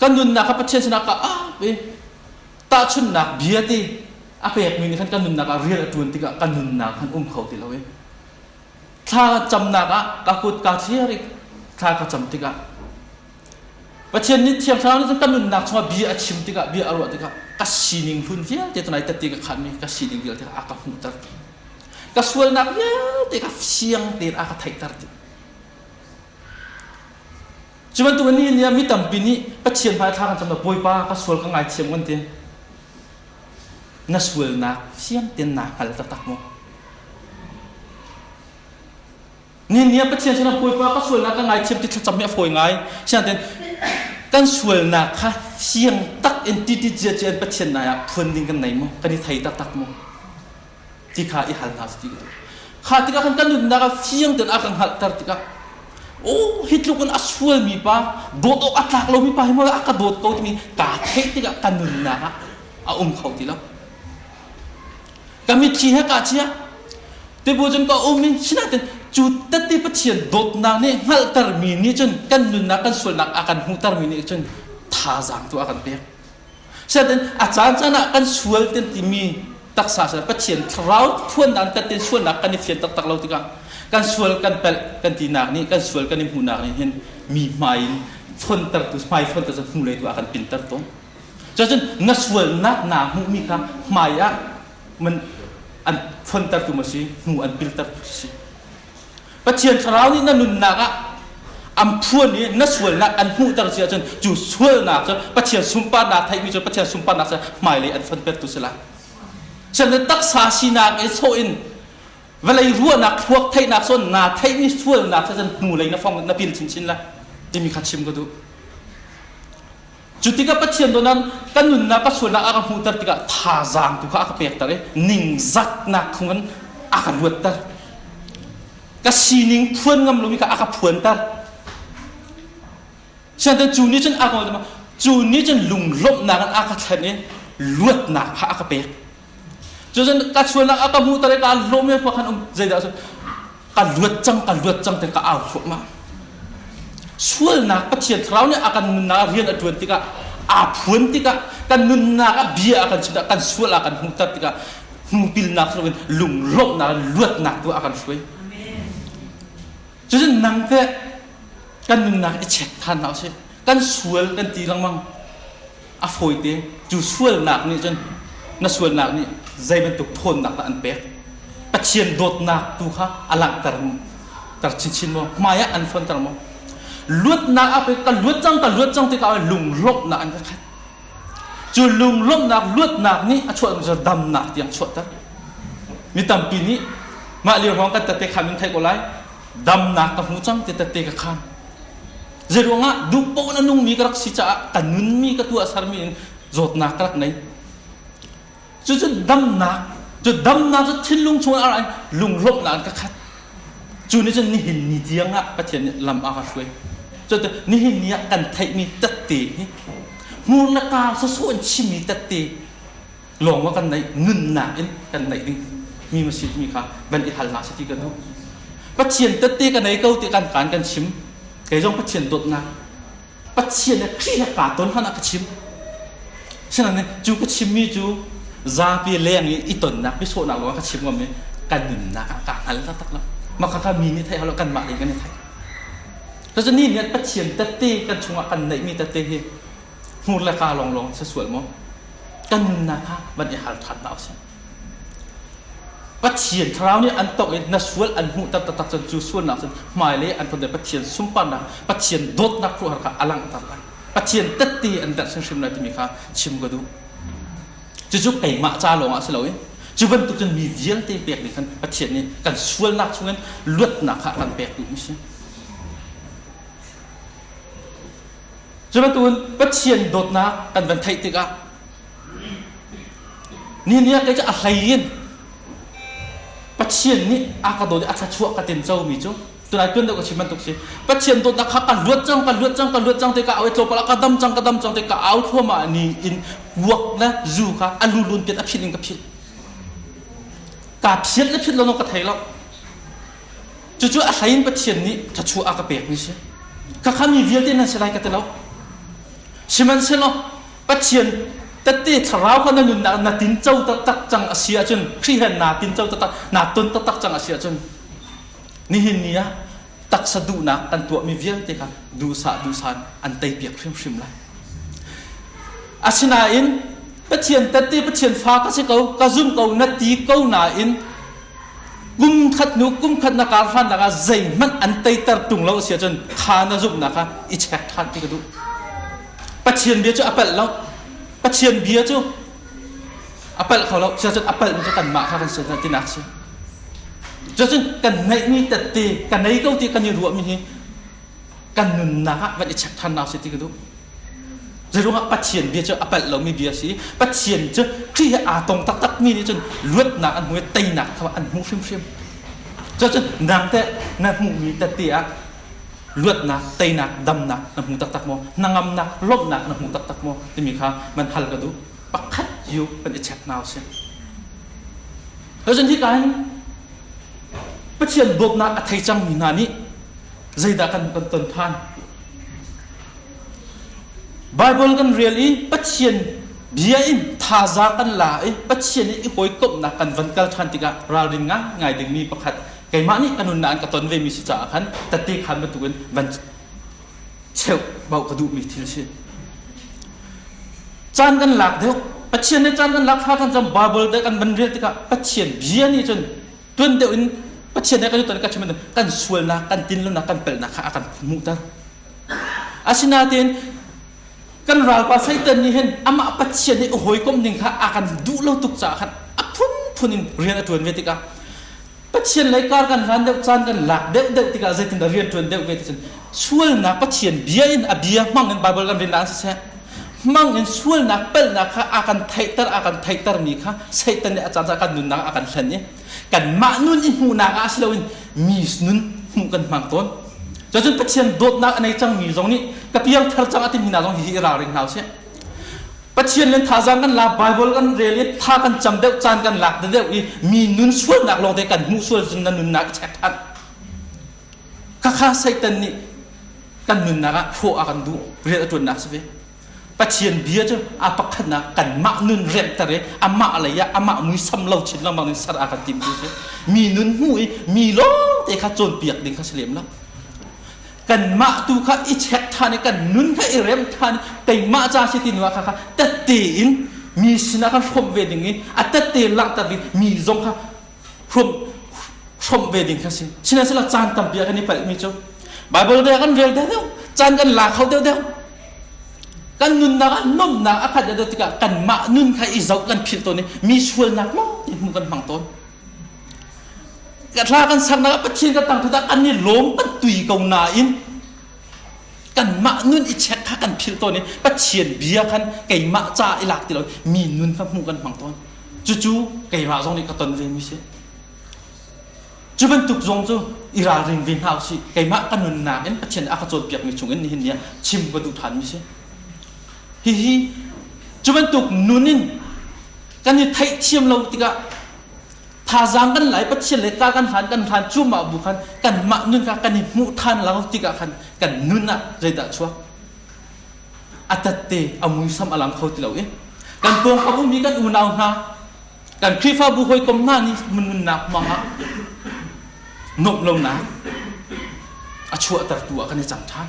kan nunnak kha Pathian sinah ka ap i tahchunnak bia ti a pekmi nih khan kan nunnak ah rial a ṭuan tikah ka nunnak khan um kho ti lo i thla camnak ah ka kut kaa thliar i thla ka cam tikah Pathian nih thiang thlarau nih cun ka nunnak chungah bia a chim tikah bia a ruah tikah ka sining hlun vialte tunai tatti ka khanmi ka si ding vialte a ka hmuhter ka sualnak vialte ka fiang tein a ka theihter ti cu bantuk ni ni mi tampi nih pathian hmai thla kan cam bawipa ka sual ka ngaithiam kan tin na sualnak fiang ten na hngal taktak mu Ninia Pathian sinah Bawipa ka sualnak ka ngaithiam ti thlacam hi a fawi ngai. Sianten kan sualnak kha fiang tak in titi ciacia in Pathian nai ah phuan ding kan nei maw? Kan i thei taktak maw? Ti kha i hal hna ti. Kha tikah khan kan nunnak ah fiang tein a kan hngalhter tikah oh hi tluk in a sualmi pa dawt awk a tlak lomi pa hi maw a ka dawt ko timi kaa theih tikah ka nunnak ah a um kho ti lo. ka mitthli he ka chia te bu cun ka um in sinatin cu tette pathian dawtnak nih hngalhter mi nih cun kan nunnak kan sualnak a kan hmuhter mi nih cun thazaang tu a kan pek sinatin a caan caan ah kan sual ten timi taksa sal pathian thlarau phuannak kan ten sualnak kan i fian taktak lo tikah kan sual kan pelh kan tinak nih kan sual kan i hmuhnak nih hin mi hmai in fontertu hmai fonter cu hmu lei tu a kan pinter tawn Cacun na sualnak naa hmuhmi kha hmaiah man an fontertu ma si, hnu an piltertu si. Pathian Thlarau nih na nunnak ah an phuan i na sualnak an hmuhter si ahcun cu sualnak cu Pathian sunparnak theihmi cu Pathian sunparnak cu hmailei an fontertu si lai. Chan le taksa sinak i sawh in vawlei ruahnak thluak theihnak sawn naa theihmi sualnak cu cun hnulei na fong na pil chinchin lai timi kha chim ka duh. Cu tikah Pathian donan kan nunnak ka sualnak a ka hmuhter tikah thazaang tu kha a ka pekter i ningzatnak khung in a ka ruatter. Ka sining phuan ngam lomi kha a ka phuanter. Siantan cu ni cun a ka cu ni cun lunglawmhnak in a ka thlen i luatnak kha a ka pek. Cucun ka chuannak a ka hmuhter i kaan hlawhmi khua khan um zeidah cun ka luat cang ka luat cang te ka au thluahmah sualnak Pathian thlarau nih a kan nunnak ah rian a ṭuan tikah aa phuan tikah kan nunnak ah bia a kan chim tikah kan sual a kan hmuhter tikah hnupilnak loin lunglawmhnak luatnak tu a kan hruai cucun nang teh kan nunnak i check than hna usih kan sual kan ti lengmang a fawite. Cu sualnak nih cun na sualnak nih zei bantuk ṭhawnnak dah an pek? Pathian dawtnak tu kha a langhter maw? Ter chinchin maw? Hmaiah an fuanter maw? Luatnak ah pei ka luat cang, ka luat cang tikah lunglawmhnak an ka khat. Cu lunglawmhnak luatnak nih a chuah zong damnak tiang chuahter. Mi tampi nih mah lio hrawng kan tate khan min theih ko lai. Damnak ka hmu cang ti tate ka khan. Zeiruangah duhpoh in a nungmi ka rak si caah ka nunmi ka tuah sermi in zawtnak ka rak nei. Cucu damnak cu damnak cu thinlung chung a ra in lunglawmhnak an ka khat. Cu nih cun nihin ni tiang ah Pathian nih lam a ka hruai. Cu nihin ni ah kan theihmi tette hi hmur le tar sawsawh in chimmi tette lawng a kan naih nunnak in kan naih ding mi masih mi kha van i hal hna sati kan duh pathian tette ka nei ko ti kan kan kan chim kei zong pathian dawtnak pathian le kri le ka ton hana ka chim sinan ne cu ka chim mi cu zapi leng i i tonnak bi sawnak lo ka chim ngam mi kan nunnak ah ka al ta tak la maka ka mi ni thai halo kan ma ding kan ni thai to ni ni pathian tette kan chungah kan nei mi tette hi hmur le kaa lawnglawng si sual maw? Kan nunnak kha van i hal ṭhan hna u sih. Pathian thlarau nih an tawk i na sual an hmuh tak taktak cun cu sualnak cun hmailei an tonte Pathian sunparnak Pathian dawtnak hruhar kha a langhter lai Pathian tette an derh hrimhrim lai timi kha chim ka duh cucu keimah ca lawng ah si lo i cu bantuk cun mi vialte pek ning khan Pathian nih kan sualnak chungin luatnak kha a kan pektu mi si Cu bantukin Pathian dawtnak kan van theih tikah ni niah kei cu a hlein Pathian nih a ka dawt i a thluachuah ka ten comi cu tunai tuan deuh ka chim bantuk si Pathian dawtnak kha ka luat cang ka luat cang ka luat cang te ka au i tlawpal ah ka dam cang ka dam cang te ka au thluamah ni in puak na zu kha a lulun ten a philh in ka philh ka philh na philh lo ka thei lo Cucu a hlei in Pathian nih thachuah a ka pek ni si. Ka kha mi vialte nan si lai ka ti lo. Sihmanhsehlaw Pathian tette thlarau kha na nunnak na tinco taktak cang a si ahcun Khrih he naa tinco taktak naa ton taktak cang a si ahcun nihin ni ah taksa duhnak kan tuahmi vialte kha duhsah duhsan an teipiak hrimhrim lai. Asinain Pathian tette Pathian fa ka si ko ka zum ko na ti ko nain Kumkhat hnu kumkhat na kar hrannak ah zeihmanh an teiter tung lo a si ahcun tha na zumhnak ah i check than ti ka duh. Pathian bia cu a palh lo. Pathian bia cu a palh kho lo. Siahcun a palhmi cu kanmah kha kan si tinak si. Cucun kan neihmi tette, ka nei ko ti kan i ruahmi hi kan nunnak ah van i check than na si ti ka duh zeiruang ah pathian bia cu a palh lomi bia si pathian cu ṭi he aa tong taktak mi nih cun luatnak an hmu i teinak kha an hmu hrimhrim cucun nang te na hmuhmi tete ah luatnak teinak damnak na hmu taktak maw nangamnak lawmhnak na hmu taktak maw timi kha man hal ka duh pakhat yu van i check now si cucun hi ka hin pathian dawtnak a thei cangmi hna nih zeidah kan kan ton than Bible kan rel i Pathian bia in thaza kan la i Pathian i hawikomhnak kan van kal than tikah ralrin ngai ngai dingmi pakhat keimah nih kanun na an ka ton ve mi si caah khan tate khan bantukin van cheu bau ka duhmi thil si caan kan lak deuh Pathian ne caan kan lak thla kan cam Bible te kan van rel tikah Pathian bia nih cun tuan deuh in Pathian nih kan tutan kan chimman kan sualnak kan tinlonak kan pelnak kha a kan hmuhter asinain kan ralpa satan nih hin amah pathian nih hawikom ding kha a kan duh lo tuk caah khan a phunphun in rian a ṭuan ve tikah pathian lei kar kan hlan deuh caan kan lak deuh deuh tikah zeitindah rian ṭuan deuh ve ticun sualnak pathian bia in a bia hmang in bible kan rin la siseh hmang in sualnak palhnak kha a kan theihter a kan theihtermi kha Satan nih a caan kan nunnak a kan hlen i kanmah nun i hmuhnak ah si loin mi nun hmuh kan hmang tawn cun Pathian dawtnak a nei cangmi zong nih ka piangthar cang a timi hna zong hihi i ralring hna usih Pathian le thazaang kan la Bible kan rel i tha kan cam deuh caan kan lak deuh i mi nun sualnak lawng te kan hmuh sual cun na nunnak i check than Khakha Satan nih kan nunnak ah hrawh a kan duh rian a ṭuannak si ve. Pathian bia cu a pakhatnak kanmah nun remter i amah lei ah amah muisam lo chin lengmang in ser a kan tim tu si. Mi nun hnu i mi lawngte kha cawnpiak ding kha si lem lo. Kanmah tu kha i check ṭhan i kan nun kha i rem ṭhan i keimah ca si tin kha kha tette in mi sinah kan hrawm ve ding i a tette langhter ding mi zong kha hrum hrom ve ding kha si sinasela caan tampi kan i palh mi cu bible bia kan rel deuh caan kan la kho deuh deuh kan nunnak ah nomnak a khat deuh tikah kanmah nun kha i zoh kan philh tawn i mi sualnak lo ti hmu kan hmang tawn thla kan saknak ah pathian ka tang thutah kan i lawm kan tui ko nain kanmah nun i check kha kan philh tawn i pathian bia khan keimah ca i lak ti lo mi nun kha hmuh kan hmang tawn Cucu keimah zong nih ka ton ve mi si. Cu bantuk zong cu i ralring ve hna usih. Keimah ka nunnak in Pathian a ka cawnpiak mi chung in nihin ni ah chim ka duh than mi si. Hihi cu bantuk nun in kan i theihthiam lo tikah thazaang kan lai Pathian le ka kan hlan kan hlan cuahmah bu khan kanmah nun kha kan i hmuh than lo tikah khan kan nun ah zeidah chuak a tatte a muisam a lang kho ti lo i kan pawng a bumi kan unau hna kan khrihfabu hawikom hna nih nunnak mangah nuamh lonak a chuahtertu ah kan i cang ṭhan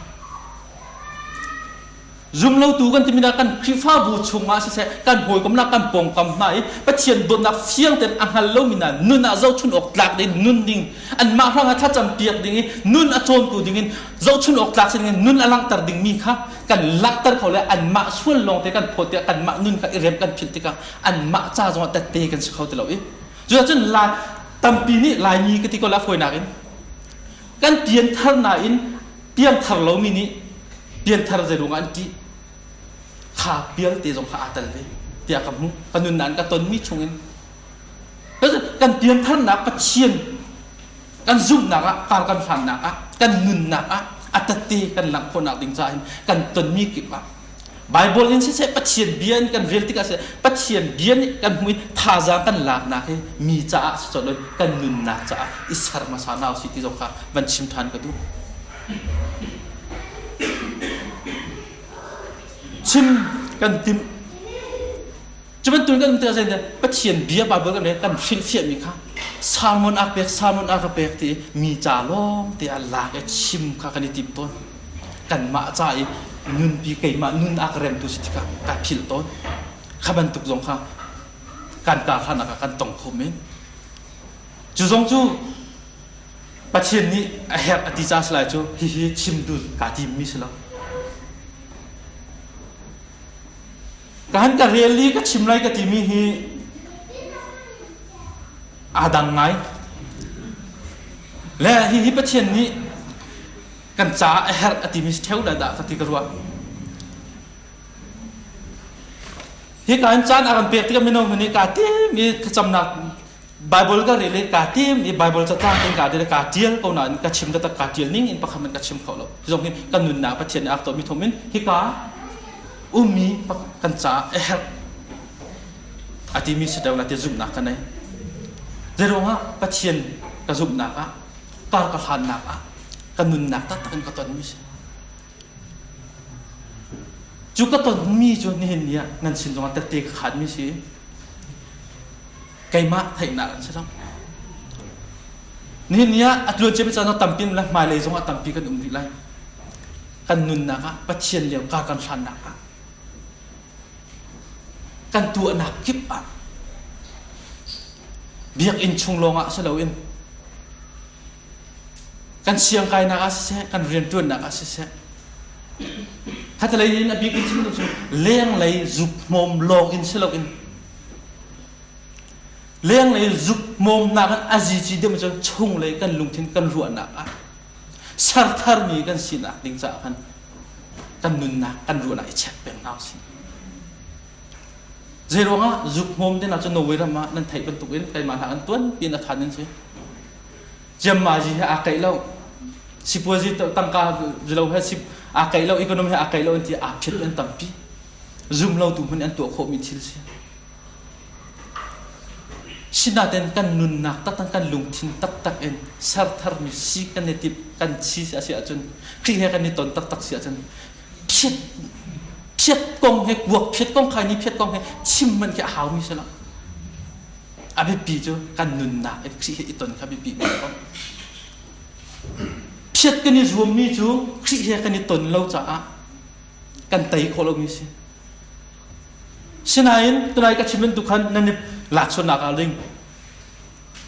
zumlotu kan timi kan khrihfabu chungah siseh kan hawikomnak kan pawngkam hna i pathian dawtnak fiang ten a hngal lomi na nun ah zohchun awk tlak ding nun ding anmah hrang a thlacam piak ding i nun a cawntu ding in zohchun awk tlak si nun a langhter dingmi kha kan langhter kho le anmah sual lawng te kan phawt tiah kanmah nun kha i rem kan philh tikah anmah ca zongah tette kan si kho ti lo i cucun lai tampi nih laimi ka ti ko la fawinak in kan pian thar nain piang thar lomi nih pian thar zei ruangah an ṭih kha pialte zong kha aa tel ve tiah ka hmuh ka nun nan ka tonmi chungin kan pian tharnak pathian kan zumhnak ah kar kan hlannak ah kan nunnak ah a tette kan langh khawhnak ding caah hin kan tonmi kip ah Bible in siseh Pathian bia in kan rel tikah siseh Pathian bia nih kan hmuh i thazaang kan laknak hi mi caah si cawlh kan nunnak caah i ser hmasa na si ti zong kha van chim than ka duh chim kan timh Cu bantukin kan umter zein Pathian bia Bible kan len kan hrilhfiahmi kha sermon a pek sermon a ka pek ti mi ca lawng te a lak i chim kha kan i tim tawn kanmah ca i nunpi keimah nun a ka remtu si tikah ka philh tawn kha bantuk zong kha kan karhlannak ah kan tong kho men cu zong cu Pathian nih a herh a ti ca si lai cu hihi chim dun kaa tim mi si lo kan ka rel li ka chim lai ka timi hi aa dang ngai le hi hi pathian nih kan ca a herh a timi theo da dah ka ti ka ruah hi ka in caan a kan pek tikah mino hmun i ka tem i thlacamnak Bible ka rel i ka tim i Bible cacang in ka dir ka tial ko na in ka chim dat ka tial ning in pakhat in ka chim kho lo zong hin kan nun na pathian ak to mi thom in hika ummi kan ca e her ati mi sedau na ti zum na ka nei zerong ah pathian ka zum nak ah kar ka hlan nak ah kan nun nak tak tak in ka ton mi si Cu ka tonmi cu nihin ni ah nan sin zongah tette ka khatmi si. Keimah theihnak an si lo. Nihin ni ah a tuan cemi caan tampi le hmailei zongah tampi kan um rih lai. Kan nunnak ah Pathian lio ka kan hlannak ah kan tuahnak kip ah biakinn chung lawngah si loin kan siang kainak ah siseh kan rianṭuannak ah siseh khatalei in a bik in chim cu lenglei zuk hmawm lawng in si loin lenglei zuk hmawmnak in a zici deuh cu chunglei kan lungthin kan ruahnak ah sertharmi kan sinak ding caah khan kan nunnak kan ruahnak i check peng hna si zei ruangah zuk hmawm ding ah cu Norway ram ah nan theih bantuk in keimah hla an tuan pi in a khan in si ciammaazi he aa keih lo sipuazi tangka zilo he si aa keih lo economy he aa keih lo an ti aa phiat an tampi zumlotu hmun an tuah khawhmi thil si sinaten kan nunnak taktak kan lungthin taktak in sertharmi si kan i tip kan chi si asi ahcun khi he kan i ton taktak si ahcun phiat phiat kong he kuak phiat kong khai ni phiat kong he chim man khi a haumi si lo a biapi cu kan nunnak i Khrih he i ton kha biapi men ko. Phiat kan i zuammi cu Khrih he kan i ton lo caah kan tei khawh lomi si. Sinain tunai ka chim bantuk khan nan i laaksuannak ah ling.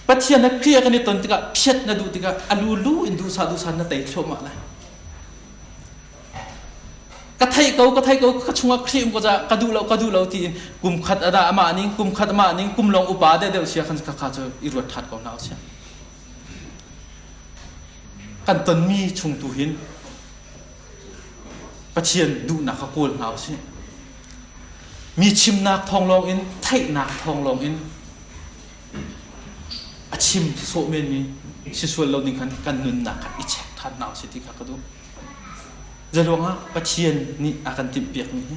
Pathian ha Khrih kan i ton tikah phiat na duh tikah a lu lu in duhsah duhsah na tei thluahmah lai. ka thei ko ka thei ko ka chungah khrim ko ja ka duh lo ka duh lo ti kum khat ada ama ning kum khat ama ning kum long upa de deuh sia khan ka kha chu i ruat that ko na sia kan ton mi chung tu hin pathian duh nak ka kawl na si mi chim nak thong long in thei nak thong long in a chim so men mi si sual lo ding khan kan nun nak i check than na si ti kha ka du Zeiruangah Pathian nih a kan timhpiakmi hi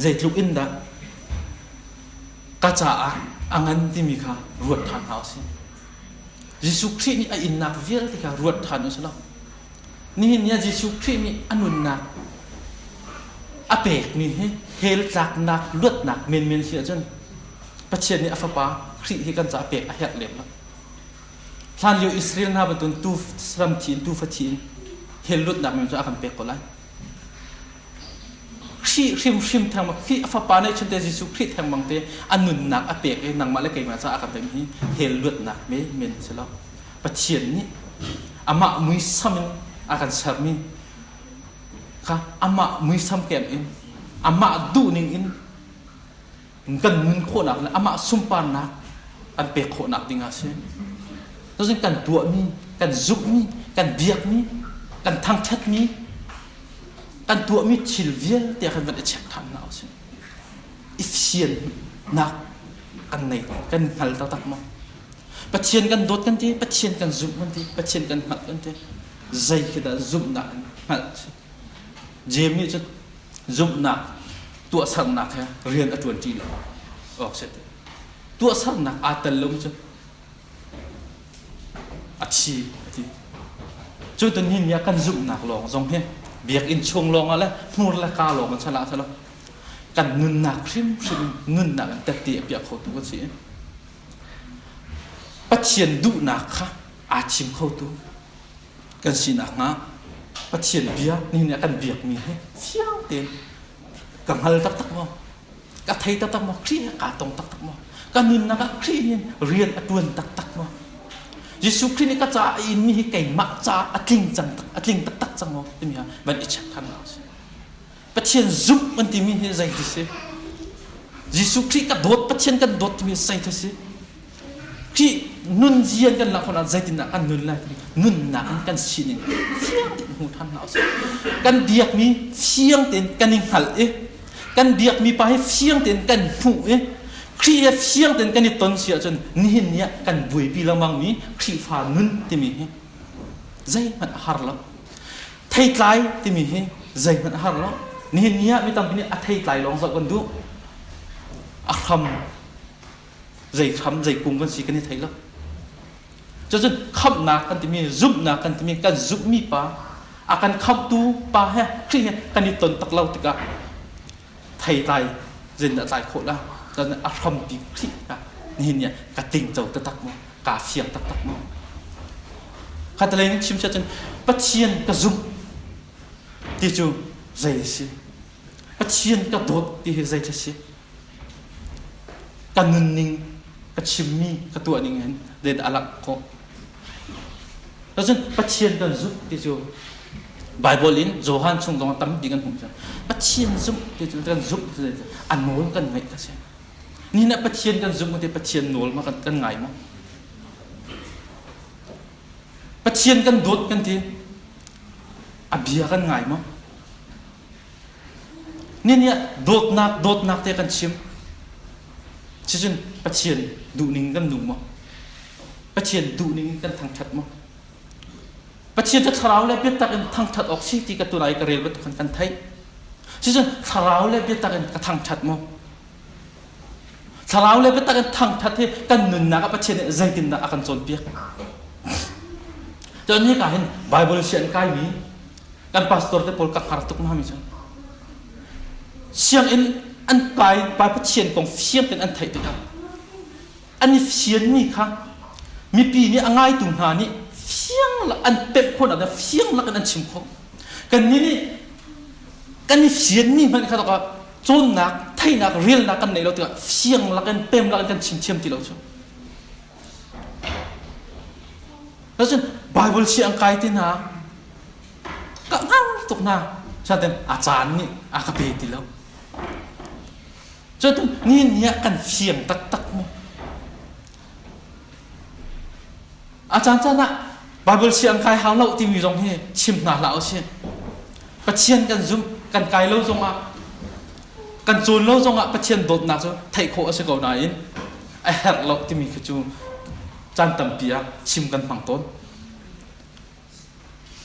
zeitluk in dah ka caah a ngan timi kha ruat ṭhan hna u sih. Jesuh Khrih nih a innak vialte kha ruat ṭhan u sih law nihin ni ah Jesuh Khrih nih a nunnak a pekmi hi hell tlaknak luatnak menmen si ahcun Pathian nih a Fapa Khrih hi kan caah pek a herh lem lo. Hlanlio Israel hna bantuin tuu ram thi in tuufa thi in hell lutnak men cu a kan pek ko lai. Khrih hrimhrim theng bang Khrih a fapa neih chunte Jesuh Khrih theng bang te a nunnak a pek i nangmah le keimah caah a kan pek mi hell luatnak me men si lo. Pathian nih amah muisam in a kan sermi kha amah muisam kem in amah duhning in kan nun khawhnak le amah sunparnak an pek khawhnak ding ah si tazing kan tuahmi kan zukmi kan biakmi kan thangthatmi kan tuahmi thil vialte kan van i check than na si efficient nak kan nei kan hngal taktak mo pathian kan dawt kan ti pathian kan zumh kan ti pathian kan hngalh kan ti zei khi dah zumhnak in hngalh si Jeim nih cun zumhnak tuahsernak he rian a ṭuanṭi lo awk si Tuahsernak aa tel lomi cu a thi a ti. Cu tu ni ni ah kan zumhnak lawng zong hi biakinn chung lawngah le hnur le ka lawng in chalah ah selaw kan nunnak hrimhrim in nunnak in tette a piah khotu kan si. Pathian duhnak kha aa thim khotu kan sinak hnga Pathian biak ni nih a kan biakmi hi fiang tein ka hngal taktak maw ka thei taktak maw Khrih nih kaa tong taktak maw ka nunnak ah Khrih nih rian a tuan taktak maw Jesuh Khrih nih ka caah a inmi hi keimah caah a tling cang a tling taktak cang maw timi hi van i check than a si Pathian zumh an timi hi zei ti si? Jesuh Khrih ka dawt Pathian kan dawt timi zei ti si? Khrih nunzia kan lak hmanah zeitindah kan nun lai timi nunnak in kan sining fiang tein hmu ṭhan hna usih. Kan biakmi fiang tein kan i hngalh i kan biakmi pa hi fiang tein kan hmuh i Khrih he fiang tein kan i ton si ahcun nihin ni ah kan buaipi lengmangmi Khrihfa nun timi hi zeihmanh a har lo. theitlai timi hi zeihmanh a har lo nihin ni ah mi tampi nih a theitlai lawng zoh kan duh a hram zei hram zei kung kan si kan i thei lo cucun khamhnak kan timi zumhnak kan timi kan zumhmi pa a kan khamhtu pa he khrih he kan i ton tak lo tikah theitlai zin a tlai khawh la a hrampi khrih ah nihin ni ka ting co taktak mu kaa fiang taktak maw? Khatalei nih chim cun Pathian ka zumh ti cu zei a si? Pathian ka dawt ti hi zei a si? Ka nunning ka chimmi ka tuah ning in zeidah a langh khawh? Cun Pathian kan zumh ti cu Baibal in Johan chung zong tam bik an hmuh cu Pathian zumh ti cu kan zumh cu an nawl kan ngaih a si. Ni na Pathian kan zumh te Pathian nawl ma kan, kan ngai ma? Pathian kan dawt kan ti. A bia kan ngai ma? Ni nih dawtnak dawtnak te kan chim. Cucun Pathian duhning kan nung ma? Pathian duhning kan thangthat ma? Pathian cu thlarau le biatak in thangṭhat awk si ti ka tunai ka rel bantuk khan kan theih. Cucun thlarau le biatak in ka thangṭhat maw? Thlarau le biatak in thangṭhat hi kan nunnak ah Pathian nih zeitindah a kan cawnpiak? Cun ni ka hin Bible si an kaimi kan pastor te pawl ka hngar tuk hna mi cu sianginn an pai pai Pathian kong fiang in an theih tikah an i fianmi kha mipi nih a ngaitu hna nih fiang an pemh khawhnak ah fiang lakin an chim khawh kannih nih kan i fianmi hmanh kha tokah cawnnak theihnak relnak kan nei lo tikah fiang lakin pem lakin kan chim thiam ti lo cu Lasin Bible si ang kai te na ka ngang tuk na saden a caan ni a ka pe ti lo Cun ni ni ah kan fiang taktak maw? A caancaan ah Baibal si an kai hau lo timi zong hi chim hna hlah u si. Pathian kan zumh, kan kai lo zongah, kan cawn lo zongah Pathian dawtnak cu theih khawh a si ko nain a herh lo timi khi cu caan tampi ah chim kan hmang tawn.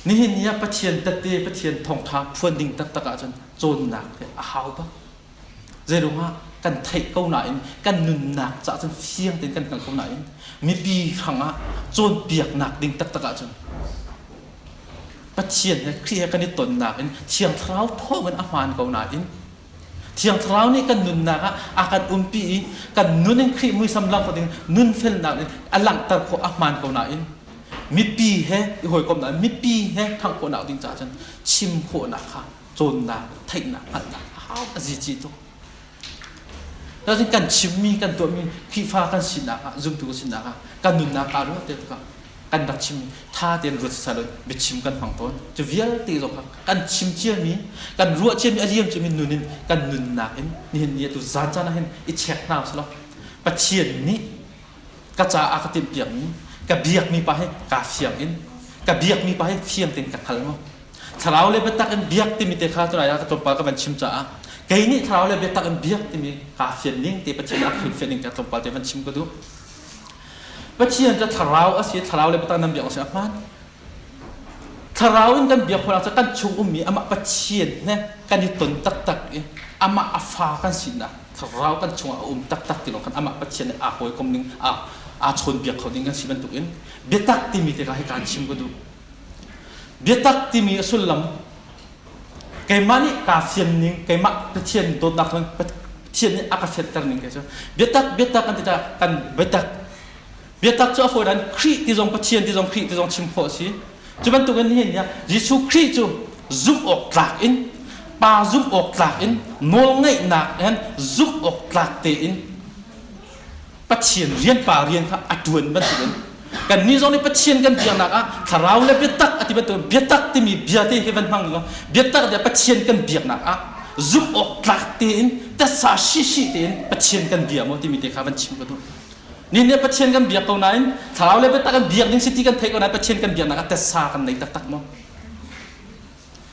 Nihin ni ah Pathian tette, Pathian thawngtha phuan ding taktak ahcun cawnnak hi a hau bak. Zeirungah kan theih ko nain kan nunnak cah cun fiang tein kan hngalh ko nain mipi hrangah cawnpiaknak ding taktak ahcun Pathian he Khrih he kan i tonnak in Thiang Thlarau thawngin a hmaan ko nain Thiang Thlarau nih kan nunnak ah a kan umpi i kan nun in Khrih muisam langh ding nunfelnak in a langhter khawh a hmaan ko nain mipi he i hawikom nakin mipi he ṭhangh khawhnak ding caah cun chim khawhnak kha cawnnak theihnak hngalhnak a hau a zici tuk. Cun kan chimmi kan tuahmi Khrihfa kan sinak ah zumtu kan sinak ah kan nunnak kaa ruah te tikah kan rak chim tha tein ruat sasa law biachim kan hmang tawn cu vialte zong kha kan chim ciami kan ruah ciami a liam ciami nun in kan nunnak in nihin ni atu zan caan ah hin i check hna selaw pathian nih ka caah ka timh piakmi ka biakmi pa hi kaa fiang in ka biakmi pa hi fiang tein ka hngal ngo thlarau le biatak in biak timi te kha tunai ah ka tlawmpal ka van chim caah kei nih thlarau le biatak in biak timi kaa fian ning te pathian ah hrilhfian ning te tlawmpal te van chim ka duh Pathian cu thlarau a si thlarau le biatak nan biak a si a hmaan thlarau in kan biak hona cu kan chung ummi amah Pathian ne kan i ton taktak i amah a fa kan sinak thlarau kan chungah a um taktak ti lawng khan amah Pathian nih aa hawi kom ning aa aa chawnbiak kho ding kan si bantuk in biatak timi te ka hi kaan chim ka duh biatak timi a sullam keimah nih kaa fian ning keimah pathian dawtnak cun pathian nih a ka fianter ning kei cu biatak biatak kan ti ta kan biatak biatak cu a fawi dan Khrih ti zong pathian ti zong Khrih ti zong chim khawh a si cu bantukin hihin niah Jesuh Khrih cu zumh awk tlak in pa zumh awk tlak in nawlngeihnak in zumh awk tlak tein Pathian rian pa rian kha a ṭuan bantukin kannih zong nih Pathian kan biaknak ah thlarau le biatak a ti bantukin biatak timi bia te hi van hmang law biatak le Pathian kan biaknak ah zumh awk tlak tein tasa shishi tein Pathian kan bia maw timi te kha van chim ka duh nin nih Pathian kan biak ko nain thlarau le biatak kan biak ding si ti kan theih ko nain Pathian kan biaknak ah tasa kan nei taktak maw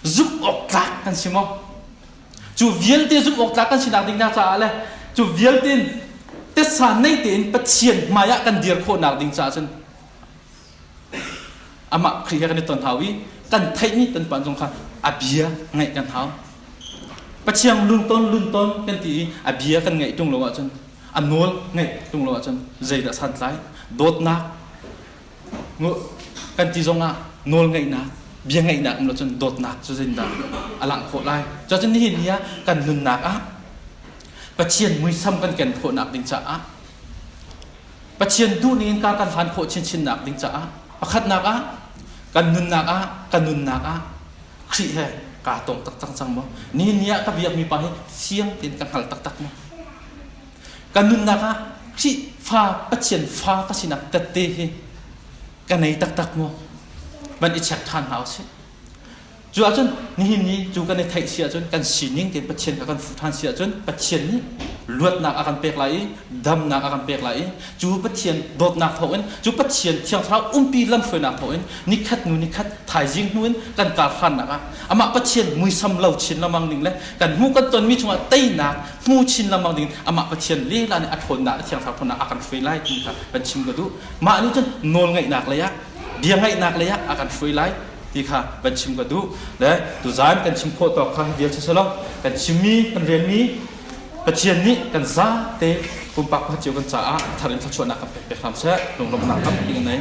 zumhawktlak kan si maw cu vialte zumhawktlak kan sinak ding hna caah le cu vialte in tessa nei tein pathian hmaiah kan dir khawhnak ding caah cun amah Khrih he kan i ton hau i kan theihmi kan pan zong kha a bia ngaih kan hau Pathian lunton lunton kan ti i a bia kan ngaih ṭung lo ahcun a nawl ngaih ṭung lo ahcun zeidah santlai dawtnak kan ti zongah nawlngeihnak biangeihnak in cun dawtnak cu zindah a langh khawh lai cun nihin ni ah kan nunnak ah Pathian muisam kan ken khawhnak ding caah Pathian duh ningin ka kan hlan khawh chinchinnak ding caah pakhatnak ah kan nunnak ah kan nunnak ah Khrih he kaa tong tak cang cang maw nihin ni ah ka biakmi pa hi fiang tein ka hngal taktak maw kan nunnak ah Khrihfa Pathian fa ka sinak tette hi ka nei taktak mu van i check than hna usih cu ahcun nihin ni cu kan i theih si ahcun kan sining te Pathian kha kan fuh than si ahcun Pathian nih luatnak a kan pek lai i damnak a kan pek lai i cu Pathian dawtnak thawngin cu Pathian thiang thlarau umpi lamhruainak thawngin nikhat nu nikhat thaizing hnu in kan kar hlannak ah amah Pathian muisam lo chin lamang ning le kan hmu kan tonmi chungah teinak hmu chin lengmang ding amah Pathian lehla nih a ṭhawnnak le thiangthlarau phun ah a kan hruai lai timi kha kan chim ka duh mah nih cun nawlngaihnak lei ah bia ngaihnak lei ah a kan hruai lai ti kha kan chim ka duh le tuzan kan chim khawh tawk kha vial silo kan chimmi kan relmi Pathian nih kan zate pumpak kha cio kan caah thar in thluachuahnak kan pek pek hram seh lunglawmhnak tampi kan nei